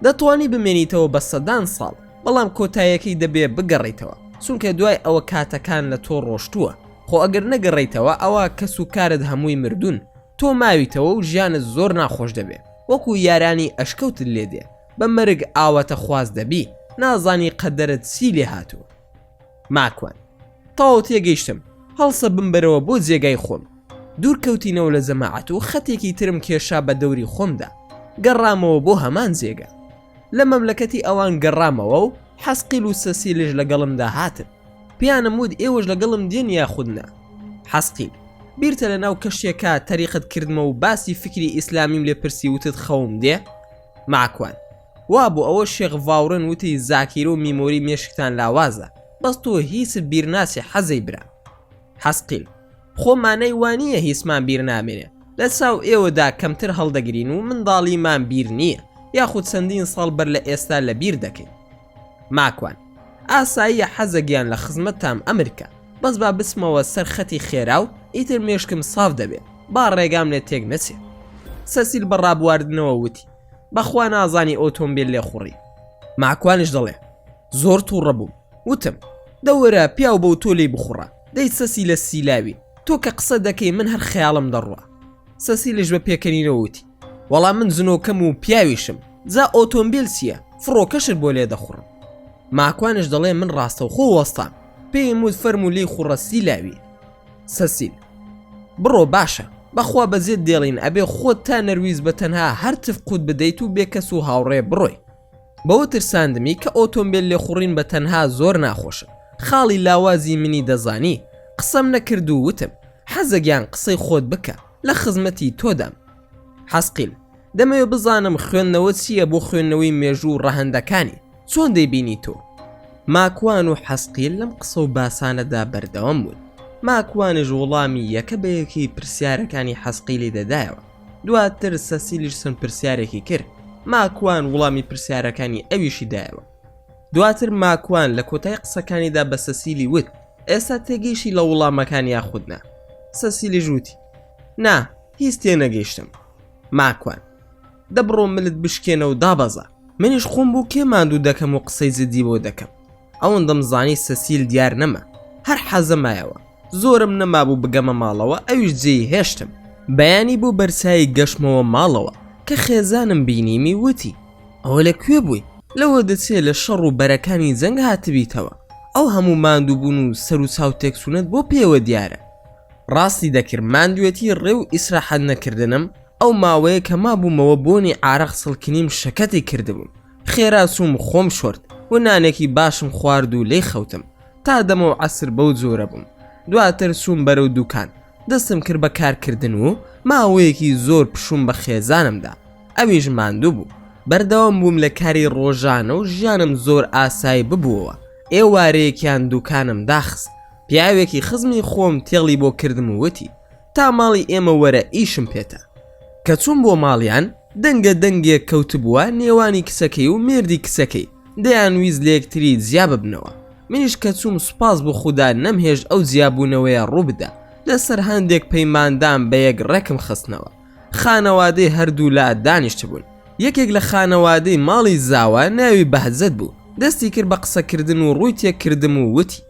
دەتوانی بمێنیتەوە بە سەدان ساڵ بەڵام کۆتایەکەی دەبێ بگەڕیتەوە چونکە دوای ئەوە کاتەکان لە تۆ ڕۆشتووە خۆ ئەگەر نەگەڕیتەوە ئەوە کەس و کارت هەمووی مردوون تۆ ماویتەوە و ژیانت زۆر ناخۆش دەبێ وەکو یارانی ئەشکەوتت لێ دێ بە مەرگ ئاواتە خواز دەبی نازانی قەدەرت سی لێ هاتوو ماکوان تەواو تێگەیشتم هەڵسە بمبەرەوە بۆ جێگای خۆم دوور کەوتینەوە لە جەماعەت و خەتێکی ترم کێشا بە دەوری خۆمدا گەڕامەوە بۆ هەمان جێگە لە مەملەکەتی ئەوان گەڕامەوە و حەسقیل و سەسیلش لەگەڵمدا هاتن پیانم وت ئێوەش لەگەڵم دێن یاخودنا حەسقیل بیرتە لە ناو کەشتێکە تەریقت کردمە و باسی فکری ئیسلامیم لێ پرسی وتت خەوم دێ ماکوان وا بوو ئەوە شێخ ڤاورن وتی زاکیرە و میمۆری مێشکتان لاوازە بەس تۆ هیچت بیر ناچێ حەزەی برا حەسقیل خۆ مانای وا نییە هیچمان بیر نامێنێ لە چاو ئێوەدا کەمتر هەڵدەگرین و منداڵیمان بیر نییە یاخود چەندین ساڵ بەر لە ئێستا لە بیر دەکەین ماکوان ئاساییە حەزە گیان لە خزمەتتام ئەمرکە بەس با بچمەوە سەر خەتی خێرا و ئیتر مێشکم ساف دەبێ با ڕێگام لێ تێک نەچێ سەسیل بە ڕابواردنەوە وتی بەخوا نازانی ئۆتۆمبیل لێ خوڕی ماکوانش دەڵێ زۆر تووڕە بووم وتم دەوەرە پیاو بەو تۆ لی بخوڕە دەی سەسی لە سیلاوی تۆ کە قسە دەکەی من هەر خەیاڵم دەڕوە سەسیلش بە پێکەنینەوەوتی وەڵا من زنۆکەم و پیاویشم جا ئۆتۆمبیل چییە فڕۆکەشت بۆ لێ دەخوڕم ماکوانش دەڵێ من ڕاستەوخۆ وەستان پێی مود فەرمو لی خوڕە سیلاوی سەسیل. بڕۆ باشە. بەخوا بەجێت دێڵین ئەبێ خۆت تا نەرویست بە تەنها هەر تف قوت بدەیت و بێ کەس و هاوڕێ بڕۆی. بەوە ترساندمی کە ئۆتۆمبێل لێخوڕین بە تەنها زۆر ناخۆشە. خاڵی لاوازی منی دەزانی. قسەم نەکرد و وتم. حەزە گیان قسەی خۆت بکە. لە خزمەتی تۆدام. حەسقیل، دەمەوێت بزانم خوێندنەوە چییە بۆ خوێندنەوەی مێژوو و ڕەهەندەکانی، چۆن دەیبینی تۆ؟ ماکوان و حەسقیل لەم قسە و باسانەدا بەردەوام بوون، ماکوانیش وڵامی یەکە بە یەکەی پرسیارەکانی حەسقیلی دەدایەوە، دواتر سەسیلیش چەند پرسیارێکی کرد، ماکوان وڵامی پرسیارەکانی ئەویشی دایەوە. دواتر ماکوان لە کۆتای قسەکانیدا بە سەسیلی وت، ئێستا تێگەیشتی لە وڵامەکان یاخود نا؟ سەسیلیش وتی، نا، هیچ تێنەگەیشتم ماکوان. دەبڕۆ ملت بشکێنە و دابەزە. منیش خۆم بۆ کێ ماندوو دەکەم و قسەی جدی بۆ دەکەم. ئەوەندەم زانی سەسیل دیار نەما. هەر حەزە مایەوە. زۆرم نەمابوو بگەمە ماڵەوە ئەویش جێی هێشتم. بەیانی بۆ بەرچایی گەشتمەوە ماڵەوە کە خێزانم بینیمی وتی، ئەوە لە کوێ بووی؟ لەوە دەچێ لە شەڕ و بەرەکانی جەنگ هاتبیتەوە. ئەو هەموو ماندووبوون و سەروچاو تێکچوونەت بۆ پێوە دیارە. ڕاستی دەکرد ماندوێتی ڕێ و ئیسراحەت نەکردنم، ئەو ماوەیە کە مابوومەوە بۆنی عارەق سڵکینیم شەکەتی کردبووم، خێرا چووم خۆم شۆرد و نانێکی باشم خوارد و لێی خەوتم تا دەمەو عەسر بەو جۆرە بووم، دواتر چووم بەرەو دووکان دەستم کرد بە کارکردن و ماوەیەکی زۆر پشووم بە خێزانم دا ئەویش ماندوو بوو، بەردەوام بووم لە کاری ڕۆژانە و ژیانم زۆر ئاسایی ببووەوە، ئێوارەیەکیان دووکانم داخست، پیاوێکی خزمی خۆم تێڵی بۆ کردم و وتی تا ماڵی ئێمە وەرە ئیشم پێتە کە چووم بۆ ماڵیان دەنگە دەنگێک کەوتبووە نێوانی کچەکەی و مێردی کچەکەی دەیان ویست لە یەکتری جیا ببنەوە منیش کە چووم سوپاس بۆ خودا نەمهێشت ئەو جیابوونەوەیە ڕووبدا لەسەر هەندێک پەیماندام بە یەک ڕێکم خستنەوە خانەوادەی هەردوولا دانیشتبوون یەکێک لە خانەوادەی ماڵی زاوا ناوی بەهجەت بوو دەستی کرد بە قسەکردن و ڕووی تێکردم و وتی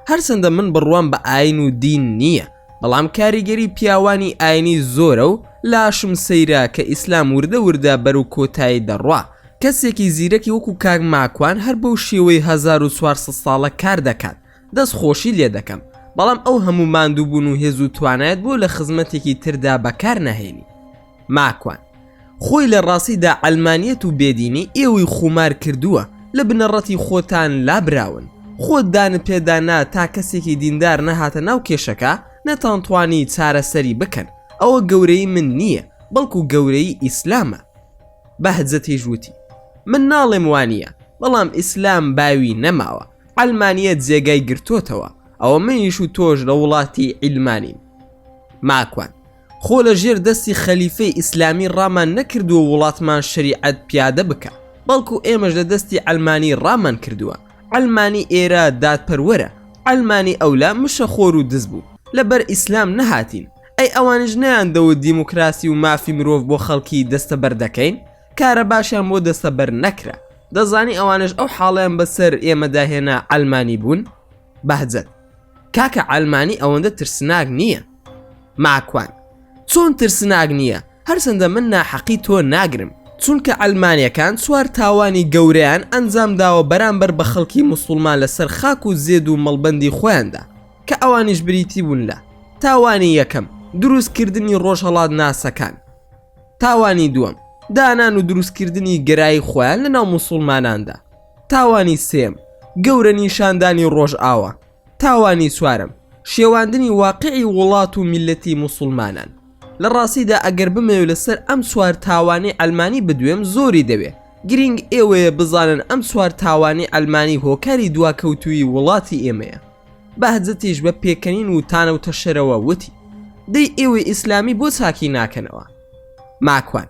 هەرچەندە من بڕوام بە ئاین و دین نییە بەڵام کاریگەری پیاوانی ئاینی زۆرە و لاشم سەیرە کە ئیسلام وردە وردە بەرەو کۆتایی دەڕوا کەسێکی زیرەکی وەکو کاک ماکوان هەر بەو شێوەی هەزار و چوار سەد ساڵە کار دەکات دەست خۆشی لێ دەکەم بەڵام ئەو هەموو ماندوو بوون و هێز و توانایت بۆ لە خزمەتێکی تردا بەکار نەهێنی ماکوان خۆی لە ڕاستیدا عەلمانیەت و بێدینی ئێوەی خومار کردووە لە بنەڕەتی خۆتان لابراون خۆت دانت پێدا نا تا کەسێکی دیندار نەهاتە ناو کێشەکە نەتانتوانی چارەسەری بکەن ئەوە گەورەی من نییە بەڵکو گەورەی ئیسلامە بەهجەتیش وتی من ناڵێم وانە بەڵام ئیسلام باوی نەماوە عەلمانیەت جێگای گرتۆتەوە ئەوە منیش و تۆش لە وڵاتی عیلمانین ماکوان خۆ لە ژێر دەستی خەلیفەی ئیسلامی ڕامان نەکردووە وڵاتمان شریعەت پیادە بکە بەڵکو ئێمەش لە دەستی عەلمانی ڕامان کردووە عەلمانی ئێرە دادپەروەرە عەلمانی ئەولا مشە خۆر و دز بوو لە بەر ئیسلام نەهاتین ئەی ئەوانش نیان دەوت دیموکراسی و مافی مرۆڤ بۆ خەڵکی دەستەبەر دەکەین کارە باشیان بۆ دەستەبەر نەکرا دەزانی ئەوانەش ئەو حاڵیان بەسەر ئێمەدا هێنا عەلمانی بوون بەهجەت کاکە عەلمانی ئەوەندە ترسناک نییە ماکوان چۆن ترسناک نییە هەرچەندە من ناحەقی تۆ ناگرم چونکە ئەلمانیەکان چوار تاوانی گەوریان ئەنجام داوە بەرامبەر بە خەڵکی موسڵمان لەسەر خاک و زێد و مەڵبەندی خۆیاندا کە ئەوانیش بریتی بوون لە تاوانی یەکەم دروستکردنی ڕۆژهەڵات ناسەکان تاوانی دووەم دانان و دروستکردنی گەرایی خۆیان لە ناو مسلماناندا تاوانی سێم گەورە نیشاندانی ڕۆژئاوا تاوانی چوارم شێواندنی واقعی وڵات و میلەتی مسلمانان لە ڕاستیدا ئەگەر بمەوێ لەسەر ئەم چوار تاوانی ئەلمانی بدوێم زۆری دەوێ گرنگ ئێوەیە بزانن ئەم چوار تاوانی ئەلمانی هۆکاری دواکەوتوی وڵاتی ئێمەیە بەهجەتیش بە پێکەنین و تانەو تەشەرەوە وتی، دەی ئێوەی ئیسلامی بۆ چاکی ناکەنەوە؟ ماکوان،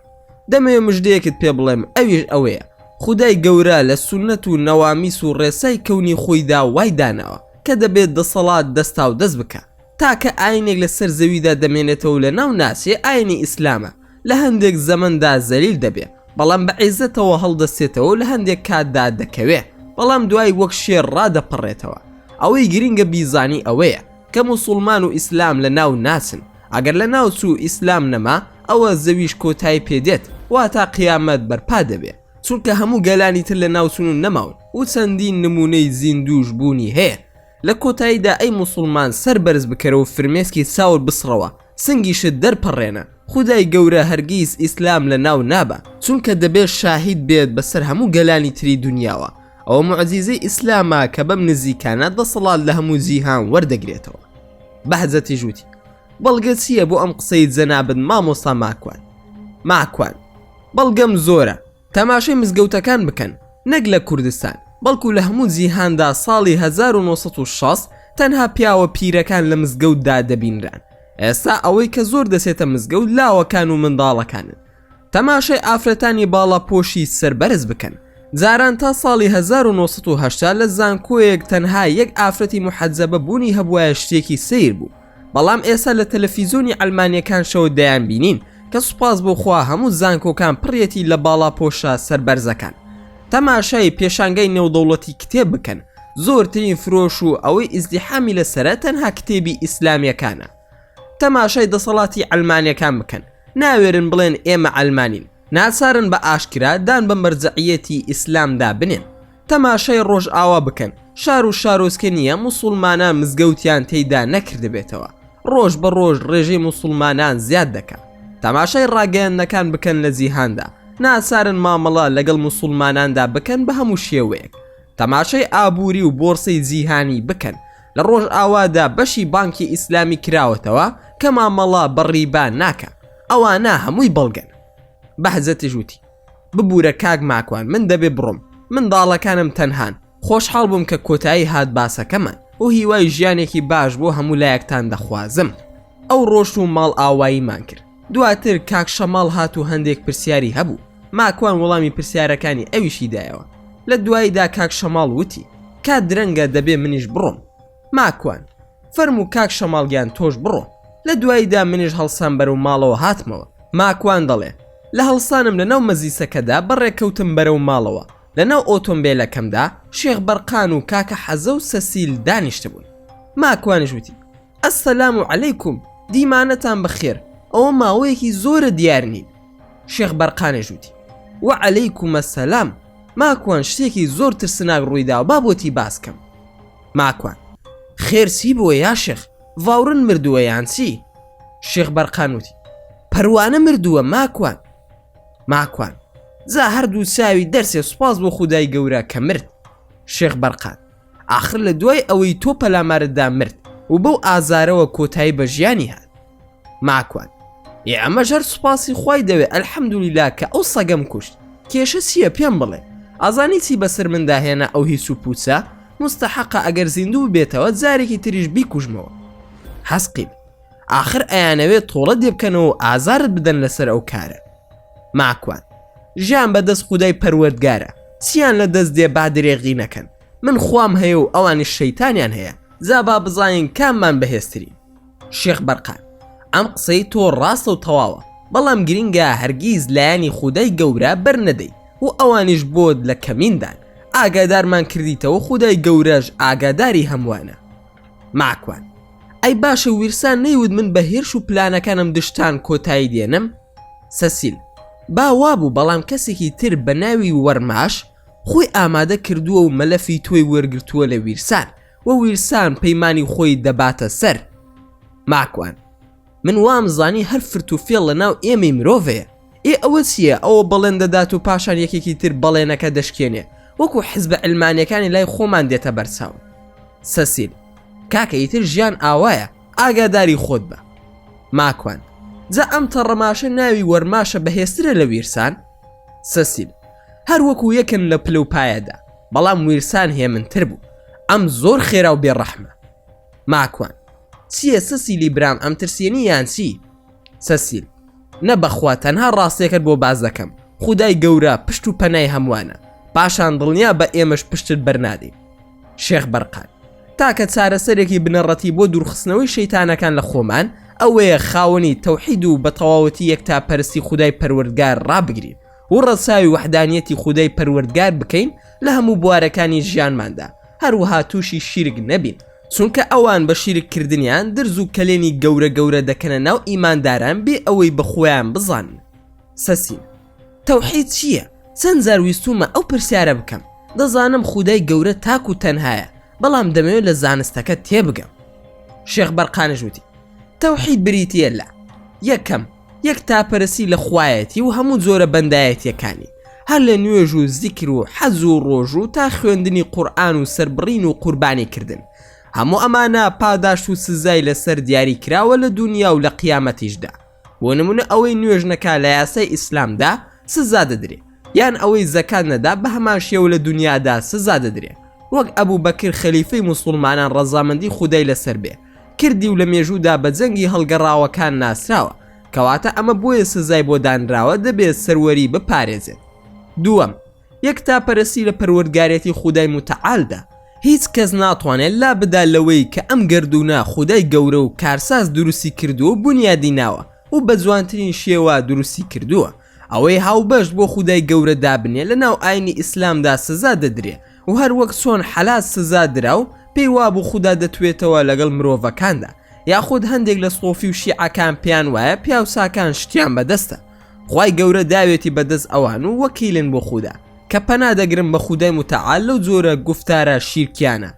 دەمەوێ مژدەیەکت پێ بڵێم ئەویش ئەوەیە، خودای گەورە لە سوننەت و نوامیس و ڕێسای کەونی خۆیدا وای داناوە کە دەبێت دەسەڵات دەستاودەست بکا، تاکە ئاینێک لەسەر زەویدا دەمێنێتەوەو لەناو ناچێ ئاینی ئیسلامە، لە هەندێک زەمەندا زەلیل دەبێ بەڵام بە عیزەتەوە هەڵدەستێتەوە و لە هەندێک کاتدا دەکەوێ بەڵام دوای وەک شێر ڕادەپەڕێتەوە ئەوەی گرنگە بیزانی ئەوەیە کە موسوڵمان و ئیسلام لە ناو ناچن ئەگەر لە ناو چوو ئیسلام نەما ئەوە زەویش کۆتای پێدێت واتا قیامەت بەرپا دەبێ چونکە هەموو گەلانی تر لە ناوچون و نەماون و چەندین نمونەی زیندووش بوونی هەیە لە کۆتاییدا ئەی موسوڵمان سەر بەرز بکەرەوە فرمێسکی چاوت بسڕەوە سنگیشت دەر پەڕێنە خودای گەورە هەرگیز ئیسلام لە ناو نابا چونکە دەبێت شاهید بێت بەسەر هەموو گەلانی تری دونیاوە ئەوە معجیزەی ئیسلامە کە بەم نزیکانە دەسەڵات لە هەموو جیهان وەردەگرێتەوە بەحجەتی ژووتی بەڵگە چییە بۆ ئەم قسەی جەنابت مامۆستا ماکوان ماکوان بەڵگەم زۆرە تەماشای مزگەوتەکان بکەن نەک لە کوردستان بەڵکو لە هەموو جیهاندا ساڵی هەزار و نۆ سەد و شەست تەنها پیاوە پیرەکان لە مزگەوتدا دەبینران ئێستا ئەوەی کە زۆر دەچێتە مزگەوت لاوەکان و منداڵەکانن تەماشای ئافرەتانی باڵاپۆشی سەر بەرز بکەن جاران تا ساڵی 1970 لە زانکۆیەک تەنها یەک ئافرەتی محەجەبە بوونی هەبوایە شتێکی سیر بوو بەڵام ئێستا لە تەلەفیزۆنی عەلمانیەکان شەوە دەیانبینین کە سوپاس بۆ خوا هەموو زانکۆکان پڕیەتی لە باڵاپۆشە سەربەرزەکان تەماشای پێشانگای نێودەوڵەتی کتێب بکەن زۆرترین فرۆش و ئەوەی ئیزدیحامی لەسرە تەنها کتێبی ئیسلامیەکانە تەماشای دەسەڵاتی عەلمانیەکان بکەن ناوێرن بڵێن ئێمە عەلمانین ناچارن بە ئاشکرا دان بە مەرجەعیەتی ئیسلامدا بنێن تەماشای ڕۆژئاوا بکەن شار و شارۆچکە نییە موسڵمانان مزگەوتیان تێیدا نەکردبێتەوە ڕۆژ بە ڕۆژ ڕێژەی موسڵمانان زیاد دەکات تەماشای ڕاگەیاندنەکان بکەن لە جیهاندا ناچارن مامەڵە لەگەڵ موسڵماناندا بکەن بە هەموو شێوەیەک تەماشای ئابووری و بۆرسی جیهانی بکەن لە ڕۆژئاوادا بەشی بانکی ئیسلامی کراوەتەوە کە مامەڵە بە ڕیبا ناکە ئەوانە هەمووی بەڵگەن بەحجەتیش وتی ببورە کاک ماکوان من دەبێ بڕۆم منداڵەکانم تەنهان خۆشحاڵ بووم کە کۆتایی هات باسەکەمان و هیوای ژیانێکی باش بۆ هەموو لایەکتان دەخوازم ئەو ڕۆشت و ماڵ ئاواییمان کرد دواتر کاک شەماڵ هات و هەندێک پرسیاری هەبوو ماکوان وەڵامی پرسیارەکانی ئەویشی دایەوە لە دواییدا کاک شەماڵ وتی کات درەنگە دەبێ منیش بڕۆم ماکوان فەرموو کاک شەماڵ گیان تۆش بڕۆ. لە دواییدا منیش هەڵسام بەرەو ماڵەوە هاتمەوە. ماکوان دەڵێ، لە هەڵسانم لەناو مەزیسەکەدا بەڕێ کەوتم بەرەو ماڵەوە، لەناو ئۆتۆمبێلەکەمدا شێخ بەرقان و کاکە حەزە و سەسیل دانیشتبوون. ماکوانیش وتی، ئەسسەلام عەلەیکوم، دیمانەتان بەخێر، ئەوە ماوەیەکی زۆرە دیار نین. شێخ بەرقانیش وتی، وەعەلەیکومەسسەلام، ماکوان شتێکی زۆر ترسناک ڕووی داوە با بۆتی باس کەم. ماکوان، خێر چی بووە یا شێخ؟ ڤاوڕن مردووە یان چی؟ شێخ بەرقان وتی، پەروانە مردووە ماکوان. ماکوان، جا هەردوو چاوی دەرچێ سوپاس بۆ خودای گەورە کە مرد. شێخ بەرقان، ئاخر لە دوای ئەوەی تۆ پەلامارت دا مرد و بەو ئازارەوە کۆتایی بە ژیانی هات. ماکوان ئێ ئەمەش هەر سوپاسی خوای دەوێ ئەلحەمدولیلا کە ئەو سەگەم کوشت کێشە چییە پێم بڵێ ئازانی چی بەسەر مندا هێنا ئەو هیچ و پوچە مستەحەقە ئەگەر زیندوو بێتەوە جارێکی تریش بیکوژمەوە حەسقیب آخر ئەیانەوێت تۆڵە دێبکەنەوە ئازارت بدەن لەسەر ئەو کارە ماکوان ژیان بەدەست خودای پەروەردگارە چیان لە دەست دێ با درێغی نەکەن من خوام هەیە و ئەوانی شەیتانیان هەیە زابا بزانین کاممان بەهێزترین شێخ بەرقان، ئەم قسەی تۆ ڕاستە و تەواوە، بەڵام گرینگە هەرگیز لایەنی خودای گەورە بەرنەدەی و ئەوانیش بۆت لە کەمیندان، ئاگادارمان کردیتەوە خودای گەورەش ئاگاداری هەمووانە. ماکوان، ئەی باشە ویرسان نەیوت من بە هێرش و پلانەکانم دژتان کۆتایی دێنم؟ سەسیل، با وابوو بەڵام کەسێکی تر بە ناوی وەرماش خۆی ئامادە کردووە و مەلەفی تۆی وەرگرتووە لە ویرسان، و ویلسان پەیمانی خۆی دەباتە سەر ماکوان من وام زانی هەر فرت و فێڵ لە ناو ئێمەی مرۆڤەیە ئێ ئەوە چییە ئەوە بەڵێن دەدات و پاشان یەکێکی تر بەڵێنەکە دەشکێنێ وەکو حزبە علمانەکانی لای خۆمان دێتە بەرچاو سەسیل کاکە ئیتر ژیان ئاوایە ئاگاداری خۆت بە ماکوان جا ئەم تەڕەماشە ناوی وەرماشە بەهێسترە لە ویرسان سەسیل هەر وەکو یەکن لە پلە و پایەدا بەڵام ویلسان هێمن تر بوو ئەم زۆر خێرا و بێ ڕەحمە ماکوان چییە سەسیلی برام ئەم ترسێنی یانچی سەسیل نە بەخوا تەنها ڕاستێکت بۆ باز دەکەم خودای گەورە پشت و پەنای هەمووانە پاشان دڵنیا بە ئێمەش پشتت بەرنادەین شێخ بەرقان تاکە چارەسەرێکی بنەڕەتی بۆ دوورخستنەوەی شەیتانەکان لە خۆمان ئەوەیە خاوەنی تەوحید و بە تەواوەتی یەک تا پەرستی خودای پەروەردگار ڕابگرین و ڕەچاوی وەحدانیەتی خودای پەروەردگار بکەین لە هەموو بوارەکانی ژیانماندا، هەروەها تووشی شیرک نەبین، چونکە ئەوان بە شیرک کردنیان درز و کەلێنی گەورە گەورە دەکەنە ناو ئیمانداران بێ ئەوەی بە خۆیان بزانن. سەسین. تەوحید چییە؟ چەند جار ویستوومە ئەو پرسیارە بکەم، دەزانم خودای گەورە تاک و تەنهایە، بەڵام دەمەوێت لە زانستەکە تێبگەم. شێخ بەرقانیش وتی، تەوحید بریتییە لە، یەکەم، یەکتاپەرستی لە خوایەتی و هەموو جۆرە بەندایەتیەکانی هەر لە نوێژ و زیکر و حەج و ڕۆژوو تا خوێندنی قورئان و سەربڕین و قوربانی کردن هەموو ئەمانە پاداشت و سزای لەسەر دیاری کراوە لە دوونیا و لە قیامەتیشدا بۆ نمونە ئەوەی نوێژ نەکا لە یاسای ئیسلامدا سزا دەدرێ یان ئەوەی زەکات نەدا بە هەمان شێوە لە دوونیادا سزا دەدرێ وەک ئەبوبەکر خەلیفەی موسوڵمانان ڕەزامەندی خودای لەسەر بێ کردی و لە مێژوودا بە جەنگی هەڵگەڕاوەکان ناسراوە کەواتە ئەمە بۆیە سزای بۆ دانراوە دەبێت سەروەری بپارێزێت دووەم یەک تا پەرستی لە پەروەردگارەتی خودای متعالدا هیچ کەس ناتوانێت لا بدا لەوەی کە ئەم گردوونە خودای گەورە و کارساز دروستی کردووە و بنیادی ناوە و بە جوانترین شێوە دروستی کردووە ئەوەی هاوبەشت بۆ خودای گەورە دابنێ لە ناو ئاینی ئیسلامدا سزا دەدرێ و هەر وەک چۆن حەلات سزا درا و پێی وابوو خودا دەتوێتەوە لەگەڵ مرۆڤەکاندا یاخود هەندێک لە سۆفی و شیعەکان پێیان وایە پیاوچاکان شتیان بەدەستە خوای گەورە داوێتی بەدەست ئەوان و وەکیلن بۆ خودا کە پەنا دەگرن بە خودای متعال لەو جۆرە گفتارە شیرکیانە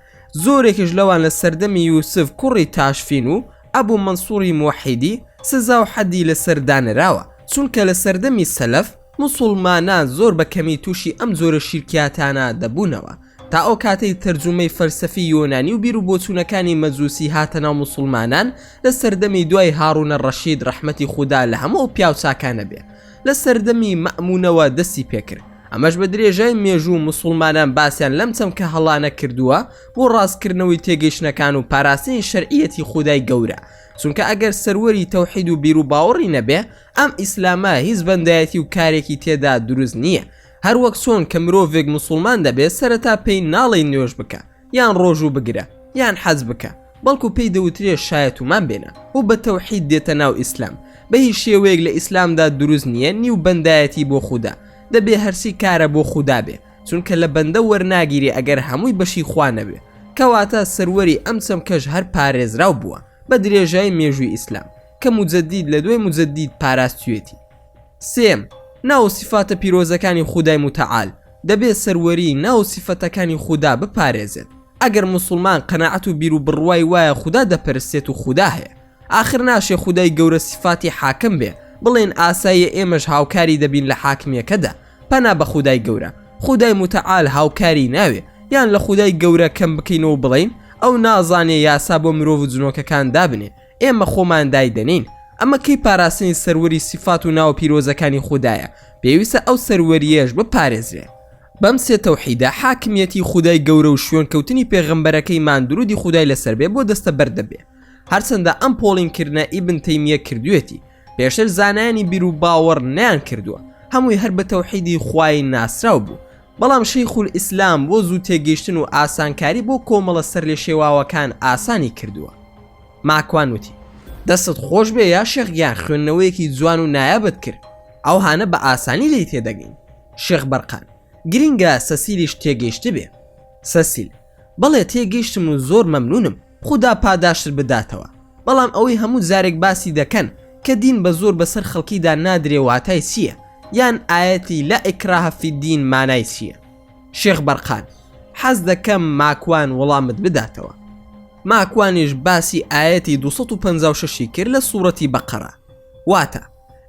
زۆرێکش لەوان لە سەردەمی یوسف کوڕی تاشفین و ئەبوو منسووری موحیدی سزا و حەدی لەسەر دانراوە چونکە لە سەردەمی سەلەف موسوڵمانان زۆر بە کەمی تووشی ئەم جۆرە شیرکیاتانە دەبوونەوە، تا ئەو کاتەی تەرجومەی فەلسەفی یۆنانی و بیر و بۆچوونەکانی مەجوسی هاتە ناو موسوڵمانان لە سەردەمی دوای هاڕونە ڕەشید ڕەحمەتی خودا لە هەموو ئەو پیاو چاکانە بێ لە سەردەمی مەئمونەوە دەستی پێ کرد ئەمەش بە درێژای مێژوو موسوڵمانان باسیان لەم چەمکە هەڵانە کردووە بۆ ڕاست کردنەوەی تێگەیشتنەکان و پاراستنی شەرعیەتی خودای گەورە چونکە ئەگەر سەروەری تەوحید و بیر و باوەڕی نەبێ ئەم ئیسلامە هیچ بەندایەتی و کارێکی تێدا دروست نیە هەر وەک چۆن کە مرۆڤێک مسوڵمان دەبێت سەرەتا پێی ناڵێین نوێژ بکە یان ڕۆژوو بگرە یان حەج بکە بەڵکو پێی دەوترێ شایەتومان بێنە و بە تەوحید دێتە ناو ئیسلام بە هیچ شێوەیەک لە ئیسلامدا دروست نیە نیو بەندایەتی بۆ خودا دەبێ هەرچی کارە بۆ خودا بێ چونکە لە بەندە وەرناگیرێ ئەگەر هەمووی بەشی خوا نەبێ کەواتە سەروەری ئەم چەمکەش هەر پارێزراو بووە بە درێژای مێژووی ئیسلام کە موجەدید لە دوای موجەدید پاراستویەتی سێم ناو و سیفاتە پیرۆزەکانی خودای موتەعال دەبێت سەروەری ناو و سیفەتەکانی خودا بپارێزێت ئەگەر موسڵمان قەناعەت و بیر و بڕوای وایە خودا دەپەرستێت و خودا هەیە ئاخر ناشێ خودای گەورە سیفاتی حاکم بێ بڵێن ئاساییە ئێمەش هاوکاری دەبین لە حاکمیەکەدا پەنا بە خودای گەورە خودای موتەعال هاوکاری ناوێ یان لە خودای گەورە کەم بکەینەوە بڵێین ئەو نازانێ یاسا بۆ مرۆڤ و جنۆکەکان دابنێ ئێمە خۆمان دایدەنێین. ئەمە کەی پاراستنی سەروەری سیفات و ناوە پیرۆزەکانی خودایە، پێویستە ئەو سەروەرییەش بپارێزرێ. بەم سێ تەوحیدە حاکمیەتی خودای گەورە و شوێن کەوتنی پێغەمبەرەکەیمان درودی خودای لەسەر بێ بۆ دەستە بەر دەبێ. هەرچەندە ئەم پۆڵین کردنە ئیبن تەیمیە کردوێتی، پێشتر زانایانی بیرو باوەڕ نەیان کردووە، هەمووی هەر بە تەوحیدی خوای ناسراو بوو، بەڵام شیخولئیسلام بۆ زوو تێگەیشتن و ئاسانکاری بۆ کۆمەڵە سەرلێشێواوەکان ئاسانی کردووە. ماکوان وتی، دەستت خۆش بێ یا شێخ گیان خوێندنەوەیەکی جوان و نایابت کرد، ئەوهانە بە ئاسانی لێی تێدەگەین. شێخ بەرقان، گرینگە سەسیلیش تێگەیشتبێ. سەسیل، بەڵێ تێگەیشتم و زۆر مەمنوونم. خودا پاداشتت بداتەوە بەڵام ئەوەی هەموو جارێک باسی دەکەن کە دین بە زۆر بەسەر خەڵکیدا نادرێ واتای چییە یان ئایەتی لا اکراه فی الدین مانای چییە شێخ بەرقان حەز دەکەم ماکوان وڵامت بداتەوە ماکوانیش باسی ئایەتی 256 ی کرد لە سوڕەتی بەقەرە واتە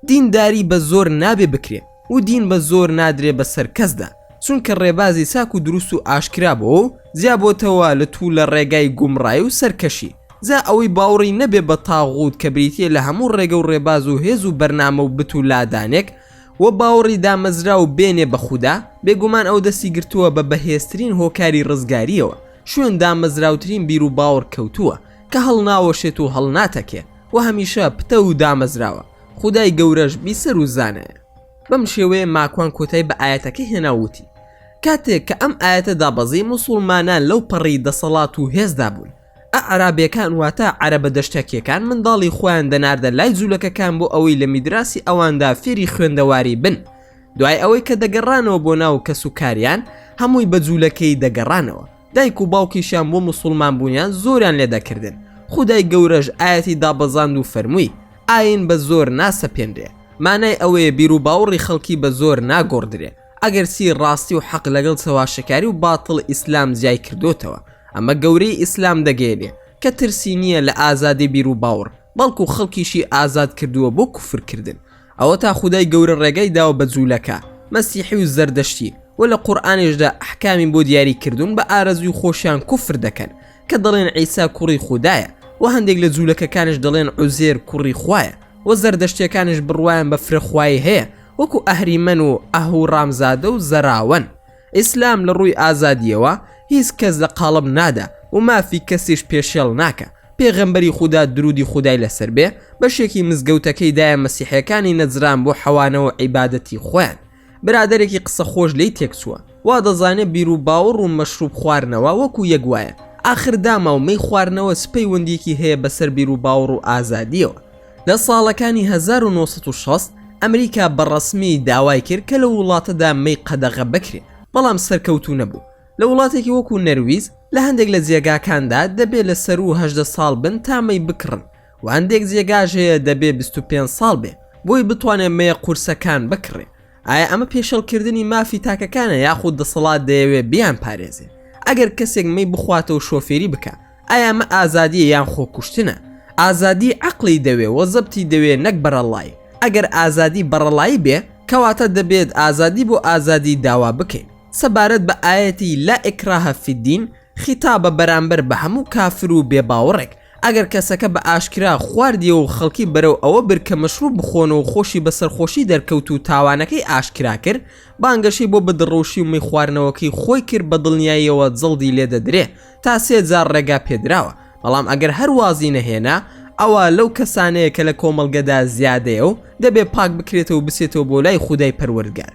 دین داری بە زۆر نابێ بکرێ و دین بە زۆر نادرێ بە سەر کەسدا چونکە ڕێبازی چاک و دروست و ئاشکرا بۆ و جیابۆتەوە لە توو لە ڕێگای گومڕای و سەرکەشی جا ئەوەی باوڕی نەبێ بە تاغووت کە بریتیە لە هەموو ڕێگە و ڕێباز و هێز و بەرنامە و بت و لادانێک و باوڕی دامەزراو بێنێ بە خودا بێگومان ئەو دەستی گرتووە بە بەهێزترین هۆکاری ڕزگاریەوە شوێن دامەزراوترین بیر و باوڕ کەوتووە کە هەڵناوەشێت و هەڵناتەکێ و هەمیشە پتەو و دامەزراوە خودای گەورەش بیسەر و زانایە بەم شێوەیە ماکوان کۆتای بە ئاەتەکە هێنا وتی کاتێک کە ئەم ئاەتە دابەزی مسلمانان لەو پەڕی دەسەڵات و هێزدا بوون ئەعرابیەکان واتە عەرەبە دەشتەکیەکان منداڵی خۆیان دەناردە لای جوولەکەکان بۆ ئەوەی لە میدراسی ئەواندا فێری خوێندەواری بن دوای ئەوەی کە دەگەڕانەوە بۆ ناو کەس و کاریان هەمووی بە جوولەکەی دەگەڕانەوە دایک و باوکیشیان بۆ مسوڵمان بوونیان زۆریان لێ دەکردن خودای گەورەش ئاەتی دابەزاند و فەرمووی ئاین بە زۆر ناسەپێنرێ مانای ئەوەیە بیر و باوڕی خەڵکی بە زۆر ناگۆڕدرێ ئەگەر چی ڕاستی و حەق لەگەڵ چەواشەکاری و باتڵ ئیسلام جیای کردۆتەوە ئەمە گەورەی ئیسلام دەگەێنێ کە ترسی نییە لە ئازادی بیر و باوڕ بەڵکو خەڵکیشی ئازاد کردووە بۆ کوفرکردن ئەوەتا خودای گەورە ڕێگای داوە بە جوولەکە، مەسیحی و زەردەشتی، وە لە قورئانیشدا ئەحکامی بۆ دیاری کردوون بە ئارەزووی خۆشیان کوفر دەکەن کە دەڵێن عیسا کوڕی خودایە، وە هەندێک لە جوولەکەکانیش دەڵێن عوزێر کوڕی خوایە، وە زەردەشتیەکانیش بڕوایان بە فرە خوایی هەیە وەکو ئەهریمەن و ئەهوڕامزادە و زەراوەن. ئیسلام لە ڕووی ئازادیەوە هیچ کەس لە قاڵب نادا و مافی کەسیش پێشێڵ ناکا، پێغەمبەری خودا درودی خودای لەسەر بێ بەشێکی مزگەوتەکەی دایە مەسیحیەکانی نەجران بۆ حەوانەوە عیبادەتی خۆیان، برادەرێکی قسە خۆش لێی تێکچووە وادەزانێ بیرو باوڕ و مەشروب خوارنەوە وەکو یەک وایە ئاخر داماو مەی خوارنەوە چ پەیوەندیەکی هەیە بەسەر بیرو باوڕ و ئازادیەوە؟ لە ساڵەکانی هەزار و نۆ سەد و شەست ئەمریکا بە ڕەسمی داوای کرد کە لەو وڵاتەدا مەی قەدەغە بکرێت، بەڵام سەرکەوتوو نەبوو. لە وڵاتێکی وەکوو نەرویج، لە هەندێک لە جێگاکاندا دەبێ لە سەروو هەژدە ساڵ بن تا مەی بکڕن و هەندێک جێگاش هەیە دەبێ بیست و پێنج ساڵ بێ بۆی بتوانێ مەیە قورسەکان بکڕێ. ئایا ئەمە پێشێڵکردنی مافی تاکەکانە یاخود دەسەڵات دەیەوێ بیان پارێزێ ئەگەر کەسێک مەی بخواتەوە شۆفێری بکە ئایامە ئازادیە یان خۆکوشتنە ئازادی عقلی دەوێ وە زەبتی دەوێ نەک بەرەڵای ئەگەر ئازادی بەڕەڵایی بێ کەواتە دەبێت ئازادی بۆ ئازادی داوا بکەین سەبارەت بە ئاەتی لا ئکراهە فیدین خیتابە بەرامبەر بە هەموو کافر و بێ باوەڕێک ئەگەر کەسەکە بە ئاشکرا خواردیەوە و خەڵکی بەرەو ئەوە برد کە مەشروب بخۆن و خۆشی بە سەرخۆشی دەرکەوت و تاوانەکەی ئاشکرا کرد، بانگەشەی بۆ بدڕوشی و میخواردنەوەکەی خۆی کرد بە دڵنیاییەوە جەڵدی لێ دەدرێ تا سێ جار ڕێگا پێ دراوە، بەڵام ئەگەر هەر وازی نەهێنا ئەوا لەو کەسانەیە کە لە کۆمەڵگەدا زیادەیە و دەبێ پاک بکرێتەوە و بچێتەوە بۆ لای خودای پەروەردگار.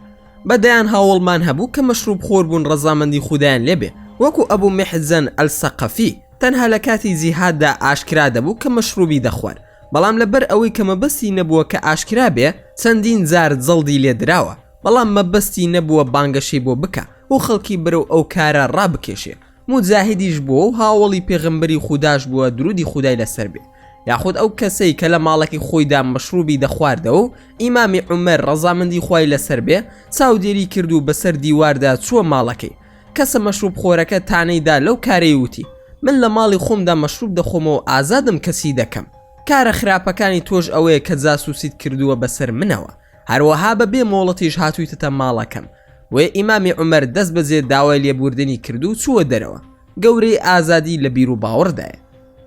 بە دەیان هاوەڵمان هەبوو کە مەشروب خۆر بوون ڕەزامەندی خودایان لێ بێ وەکوو ئەبوو میحجەن ئەلسەقەفی، تەنها لە کاتی جیهاددا ئاشکرا دەبوو کە مەشروبی دەخوارد، بەڵام لە بەر ئەوەی کە مەبەستی نەبووە کە ئاشکرا بێ چەندین جار جەڵدی لێ دراوە، بەڵام مەبەستی نەبووە بانگەشەی بۆ بکا و خەڵکی بەرەو ئەو کارە ڕابکێشێ، موجاهیدیش بووە و هاوەڵی پێغەمبەری خوداش بووە دروودی خودای لەسەر بێ، یاخود ئەو کەسەی کە لە ماڵەکەی خۆیدا مەشروبی دەخواردەوە و ئیمامی عومەر ڕەزامەندی خوای لەسەر بێ چاودێری کرد و بەسەر دیواردا چووە ماڵەکەی، کەسە مەشروب خۆرەکە تانەی دا لەو کارەی وتی من لە ماڵی خۆمدا مەشروب دەخۆمەوە ئازادم کەسی دەکەم کارە خراپەکانی تۆش ئەوەیە کە جاسوسیت کردووە بەسەر منەوە هەروەها بە بێ مۆڵەتیش هاتوویتەتە ماڵەکەم وێ ئیمامی عمەر دەست بەجێ داوای لێبوردنی کردو چووە دەرەوە گەورەی ئازادی لە بیر و باوەڕدایە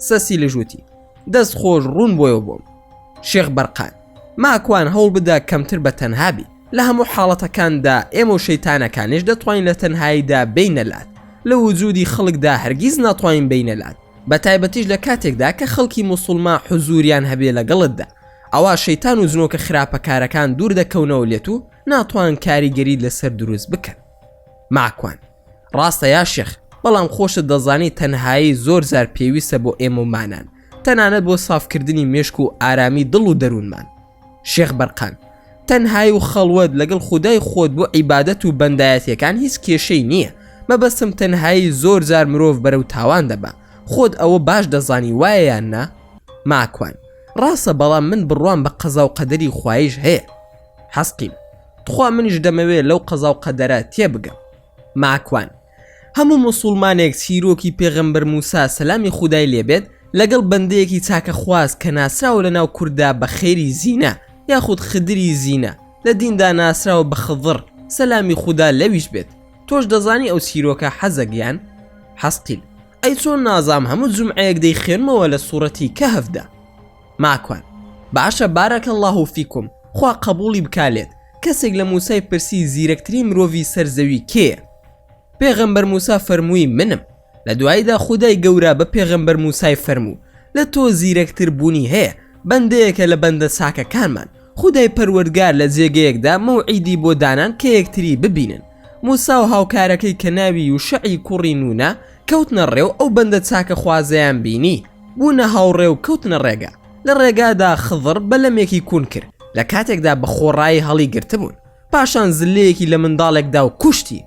سەسی لژوتی دەست خۆش ڕوون بۆیەوە بۆم شێخ بەرقان ماکوان هەوڵبدە کەمتر بە تەنها بیت لە هەموو حاڵەتەکاندا ئێمە و شەیتانەکانیش دەتوانین لە تەنهاییدا بێینە لات لە وجودی خەڵکدا هەرگیز ناتوانین بێینە لات بە تایبەتیش لە کاتێکدا کە خەڵکی موسوڵما حوزوریان هەبێ لەگەڵتدا ئەوا شەیتان و جنۆکە خراپەکارەکان دوور دەکەونەوە لێت و ناتوان کاریگەریت لەسەر دروست بکەن ماکوان. ڕاستە یا شێخ بەڵام خۆشت دەزانی تەنهایی زۆر زار پێویستە بۆ ئێمە و مانان تەنانەت بۆ سافکردنی مێشک و ئارامی دڵ و دەروونمان شێخ بەرقان تەنهایی و خەڵوەت لەگەڵ خودای خۆت بۆ عیبادەت و بەندایەتەکان هیچ کێشەی نییە مەبەستم تەنهایی زۆر جار مرۆڤ بەرە و تاوان دەبا خۆت ئەوە باش دەزانی وایە یان نا ماکوان ڕاستە بەڵام من بڕوام بە قەزا و قەدەری خوایش هەیە حەستیم تخوا منیش دەمەوێ لەو قەزا و قەدەرە تێبگەم ماکوان هەموو موسوڵمانێک چیرۆکی پێغەمبەر موسا سەلامی خودای لێبێت لەگەڵ بەندەیەکی چاکە خواز کە ناسراوە لەناو کورددا بە خێری زینە یاخود خدری زینە لە دیندا ناسراوە بە خضڕ سەلامی خودا لەویش بێت تۆش دەزانی ئەو چیرۆکە حەزەک یان حەسقیل ئەی چۆن نازام هەموو جومعەیەک دەیخوێنمەوە لە سوڕەتی کەهفدا. ماکوان باشە بارک اللە فیکم خوا قبوڵی بکا لێت کەسێک لە موسای پرسی زیرەکترین مرۆڤی سەر زەوی کێیە پێغەمبەر موسا فەرمووی منم لە دواییدا خودای گەورە بە پێغەمبەر موسای فەرموو لە تۆ زیرەکتر بوونی هەیە بەندەیەکە لە بەندە چاکەکانمان خودای پەروەردگار لە جێگەیەکدا مەوعیدی بۆ دانان کە یەکتری ببینن موسا و هاوکارەکەی کە ناوی یوشەعی کوڕی نونە کەوتنە ڕێ و ئەو بەندە چاکەخوازەیان بینی بوونە هاوڕێ و کەوتنە ڕێگە لە ڕێگادا خضر بەلەمێکی کون کرد لە کاتێکدا بە خۆڕایی هەڵی گرتبوون پاشان زلەیەکی لە منداڵێکدا و کوشتی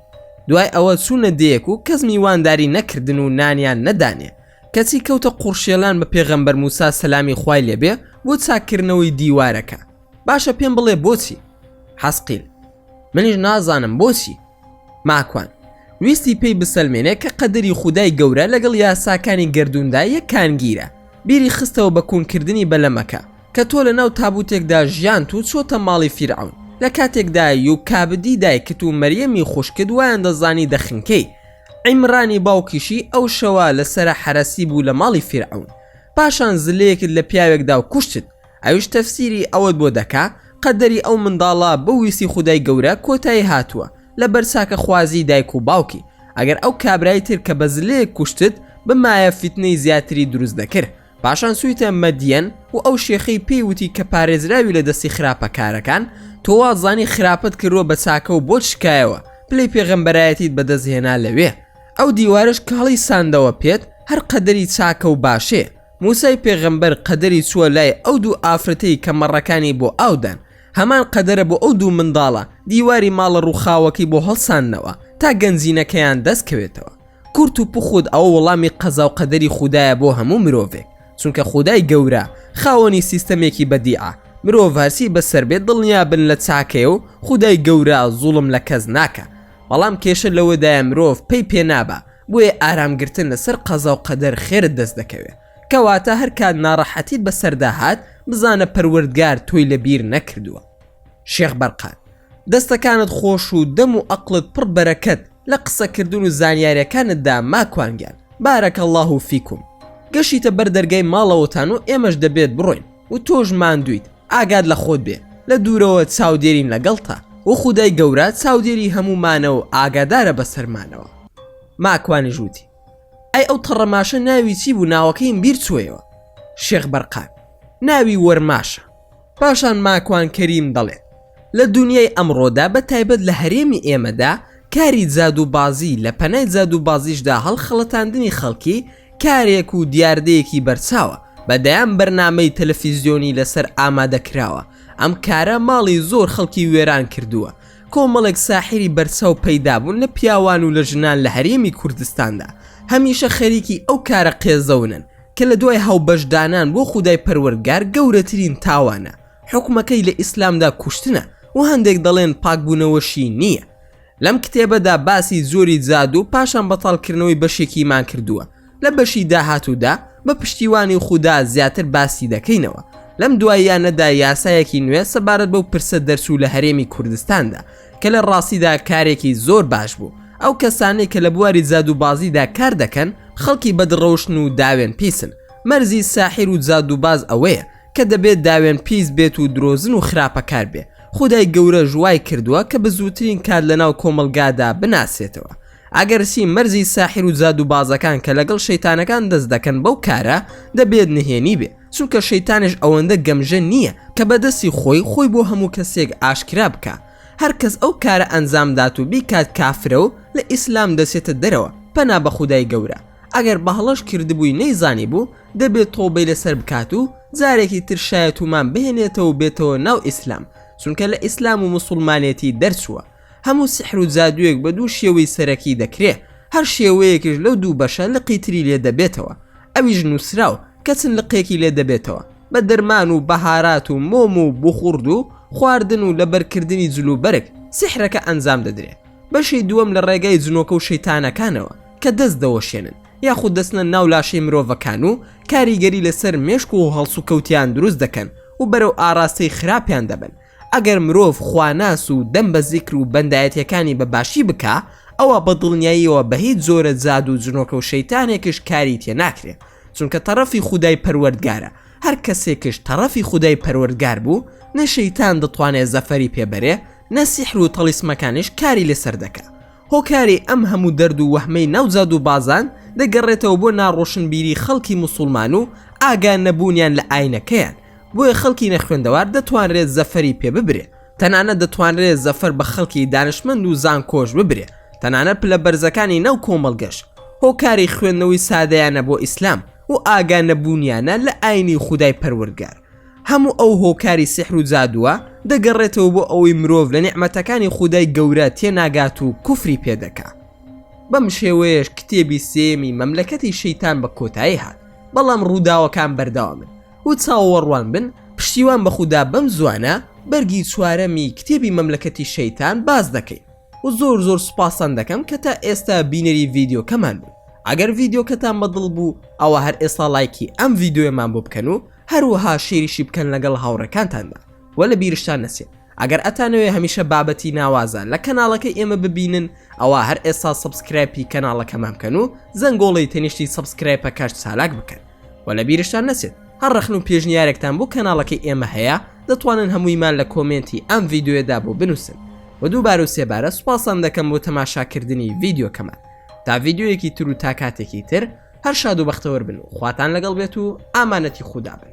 دوای ئەوە چوونە دێیەک و کەس میوانداری نەکردن و نانیان نەدانێ کەچی کەوتە قوڕشێلان بە پێغەمبەر موسا سەلامی خوای لێبێ بۆ چاککردنەوەی دیوارەکە باشە پێم بڵێ بۆچی حەسقیل منیش نازانم بۆچی ماکوان ویستی پێی بسەلمێنێ کە قەدەری خودای گەورە لەگەڵ یاساکانی گردووندا یەکانگیرە بیری خستەوە بە کونکردنی بەلەمەکە کە تۆ لە ناو تابوتێکدا ژیانت و چۆتە ماڵی فیرعون لە کاتێکدای و کابدی دایکت و مەریەمی خوشکت وایان دەزانی دەخنکەی عیمرانی باوکیشی ئەو شەوە لە سەرە حەرەسی بوو لە ماڵی فیرعەون پاشان زلەیەکت لە پیاوێک دا و کوشتت ئەویش تەفسیری ئەوەت بۆ دەکا قەدەری ئەو منداڵە بە ویستی خودای گەورە کۆتایی هاتووە لە بەر چاکە خوازی دایک و باوکی ئەگەر ئەو کابرای تر کە بە زلەیەک کوشتت بمایە فیتنەی زیاتری دروست دەکرد پاشان چویتە مەدیەن و ئەو شێخەی پێی وتی کە پارێزراوی لە دەستی خراپە کارەکان تۆ وازانی خراپەت کردوە بە چاکە و بۆت شکایەوە پلەی پێغەمبەرایەتیت بەدەست هێنا لەوێ ئەو دیوارەش کە هەڵی ساندەوە پێت هەر قەدەری چاکە و باشێ موسای پێغەمبەر قەدەری چووە لای ئەو دوو ئافرەتەی کە مەڕەکانی بۆ ئاودان هەمان قەدەرە بۆ ئەو دوو منداڵە دیواری ماڵە ڕووخاوەکەی بۆ هەڵساندنەوە تا گەنجینەکەیان دەست کەوێتەوە کورت و پوخوت ئەوە وەڵامی قەزا و قەدەری خودایە بۆ هەموو مرۆڤێک چونکە خودای گەورە خاوەنی سیستەمێکی بەدیعە مرۆڤ هەرچی بەسەر بێت دڵنیابن لە چاکەیە و خودای گەورە زوڵم لە کەس ناکا بەڵام کێشە لەوەدایە مرۆڤ پەی پێ نابا بۆیە ئارام گرتن لەسەر قەزا و قەدەر خێرت دەست دەکەوێت کەواتە هەر کات ناڕەحەتیت بەسەردا هات بزانە پەروەردگار تۆی لە بیر نەکردووە شێخ بەرقان دەستەکانت خۆش و دەم و ئەقلت پڕ بەرەکەت لە قسە کردن و زانیارەکانتدا ماکوان گیان بارک اللە فیکم گەشیتە بەر دەرگای ماڵەوەتان و ئێمەش دەبێت بڕۆین و تۆش ماندوویت ئاگات لە خۆت بێ لە دوورەوە چاودێرین لەگەڵتا و خودای گەورە چاودێری هەموومانە و ئاگادارە بەسەرمانەوە ماکوانیش وتی ئەی ئەو تەڕەماشە ناوی چی بوو ناوەکەیم بیر چوویەوە شێخ بەرقان ناوی وەرماشە. پاشان ماکوان کەریم دەڵێت، لە دونیای ئەمڕۆدا بە تایبەت لە هەرێمی ئێمەدا کاری جادوو بازی لە پەنای جادوو بازیشدا هەڵخەڵەتاندنی خەڵکی کارێک و دیاردەیەکی بەرچاوە بە دەیان بەرنامەی تەلەفیزیۆنی لەسەر ئامادە کراوە ئەم کارە ماڵی زۆر خەڵکی وێران کردووە کۆمەڵێک ساحیری بەرچاو پەیدا بوون لە پیاوان و لە ژنان لە هەرێمی کوردستاندا هەمیشە خەریکی ئەو کارە قێزەونن کە لە دوای هاوبەش دانان بۆ خودای پەروەردگار گەورەترین تاوانە حوکمەکەی لە ئیسلامدا کوشتنە و هەندێک دەڵێن پاکبوونەوەشی نییە لەم کتێبەدا باسی زۆری جادو پاشان بەتاڵکردنەوەی بەشێکیمان کردووە لە بەشی داهاتوودا بە پشتیوانی خودا زیاتر باسی دەکەینەوە لەم دواییانەدا یاسایەکی نوێ سەبارەت بەو پرسە دەرچوو لە هەرێمی کوردستاندا کە لە ڕاستیدا کارێکی زۆر باش بوو ئەو کەسانەی کە لە بواری جادووبازیدا کار دەکەن خەڵکی بەدڕەوشتن و داوێن پیسن مەرزی ساحیر و جادووباز ئەوەیە کە دەبێت داوێن پیس بێت و درۆزن و خراپەکار بێ خودای گەورەش وای کردووە کە بزووترین کات لەناو کۆمەڵگادا بناسرێتەوە ئەگەرچی مەرزی ساحیر و جادووبازەکان کە لەگەڵ شەیتانەکان دەست دەکەن بەو کارە دەبێت نهێنی بێ چونکە شەیتانش ئەوەندە گەمژە نییە کە بەدەستی خۆی خۆی بۆ هەموو کەسێک ئاشکرا بکە هەرکەس ئەو کارە ئەنجام دات و بیکات کافرە و لە ئیسلام دەچێتە دەرەوە پەنا بە خودای گەورە ئەگەر بەهەڵەش کردبووی نەیزانی بوو دەبێت تۆبەی لەسەر بکات و جارێکی تر شایەتومان بهێنێتەوە و بێتەوە ناو ئیسلام چونکە لە ئیسلام و مسلمانێتی دەرچووە هەموو سحر و جادوویەک بە دوو شێوەی سەرەکی دەکرێ هەر شێوەیەکش لەو دوو بەشە لقی تری لێ دەبێتەوە ئەویش نووسراو کە چ لقێکی لێ دەبێتەوە، بە درمان و بەهارات و مۆم و بوخورد و خواردن و لەبەرکردنی جل و بەرگ، سیحرەکە ئەنجام دەدرێ. بەشی دووەم لە ڕێگای جنۆکە و شەیتانەکانەوە کە دەست دەوەشێنن، یاخود دەچنە ناو لاشەی مرۆڤەکان و کاریگەری لە سەر مێشک و هەڵسوکەوتیان دروست دەکەن و بەرەو ئاڕاستەی خراپیان دەبەن. ئەگەر مرۆڤ خواناس و دەم بە زیکر و بەندایەتیەکانی بە باشی بکا، ئەوا بە دڵنیاییەوە بە هیچ جۆرە جادوو و جنۆکە و شەیتانێکش کاری تێ ناکرێ. چونکە تەڕەفی خودای پەروەردگارە هەر کەسێکش تەڕەفی خودای پەروەردگار بوو نە شەیتان دەتوانێت زەفەری پێ بەرێ نە سیحر و تەڵیسمەکانیش کاری لەسەر دەکا هۆکاری ئەم هەموو دەرد و وەهمەی ناو جاد و بازان دەگەڕێتەوە بۆ ناڕۆشنبیری خەڵکی مسوڵمان و ئاگا نەبوونیان لە ئاینەکەیان بۆیە خەڵکی نەخوێندەوار دەتوانرێت زەفەری پێ ببرێ تەنانەت دەتوانرێت زەفەر بە خەڵکی دانشمەند و زانکۆش ببرێ تەنانەت پلە بەرزەکانی ناو کۆمەڵگەش هۆکاری خوێندنەوەی سادەیانە بۆ ئیسلام و ئاگا نەبوونیانە لە ئاینی خودای پەروەردگار هەموو ئەو هۆکاری سیحر و جادووە دەگەڕێتەوە بۆ ئەوەی مرۆڤ لە نیعمەتەکانی خودای گەورە تێناگات و کوفری پێ دەکا بەم شێوەیەش کتێبی سێیەمی مەملەکەتی شەیتان بە کۆتایی هات بەڵام ڕووداوەکان بەردەوامن و چاوەڕوان بن پشتیوان بە خودا بەم زوانە بەرگی چوارەمی کتێبی مەملەکەتی شەیتان باس دەکەین و زۆر زۆر سوپاستان دەکەم کە تا ئێستا بینەری ڤیدیۆکەمان بوون ئەگەر ڤیدیۆکەتان بەدڵ بوو ئەوە هەر ئێستا لایکی ئەم ڤیدیۆیەمان بۆ بکەن و هەروەها شیریشی بکەن لەگەڵ هاوڕەکانتاندا و لە بیرشتان نەچێت ئەگەر ئەتانەوێ هەمیشە بابەتی ناوازە لە کەناڵەکەی ئێمە ببینن ئەوە هەر ئێستا سبسکرایپی کەناڵەکەمان بکەن و زەنگۆڵی تەنیشتی سبسکرایپە کارت چالاک بکەن وە لە بیرشتان نەچێت هەر ڕەخن و پێشنیارێکتان بۆ کەناڵەکەی ئێمە هەیە دەتوانن هەموویمان لە کۆمێنتی ئەم ڤیدیۆیەدا بۆ بنووسن وە دووبارە و سێبارە سوپاستان دەکەم بۆ تەماشاکردنی ڤیدیۆکەمان تا ڤیدیۆیەکی تر و تا کاتێکی تر هەر شاد و بەختەوەر بن و خواتان لەگەڵ بێت و ئامانەتی خودا بن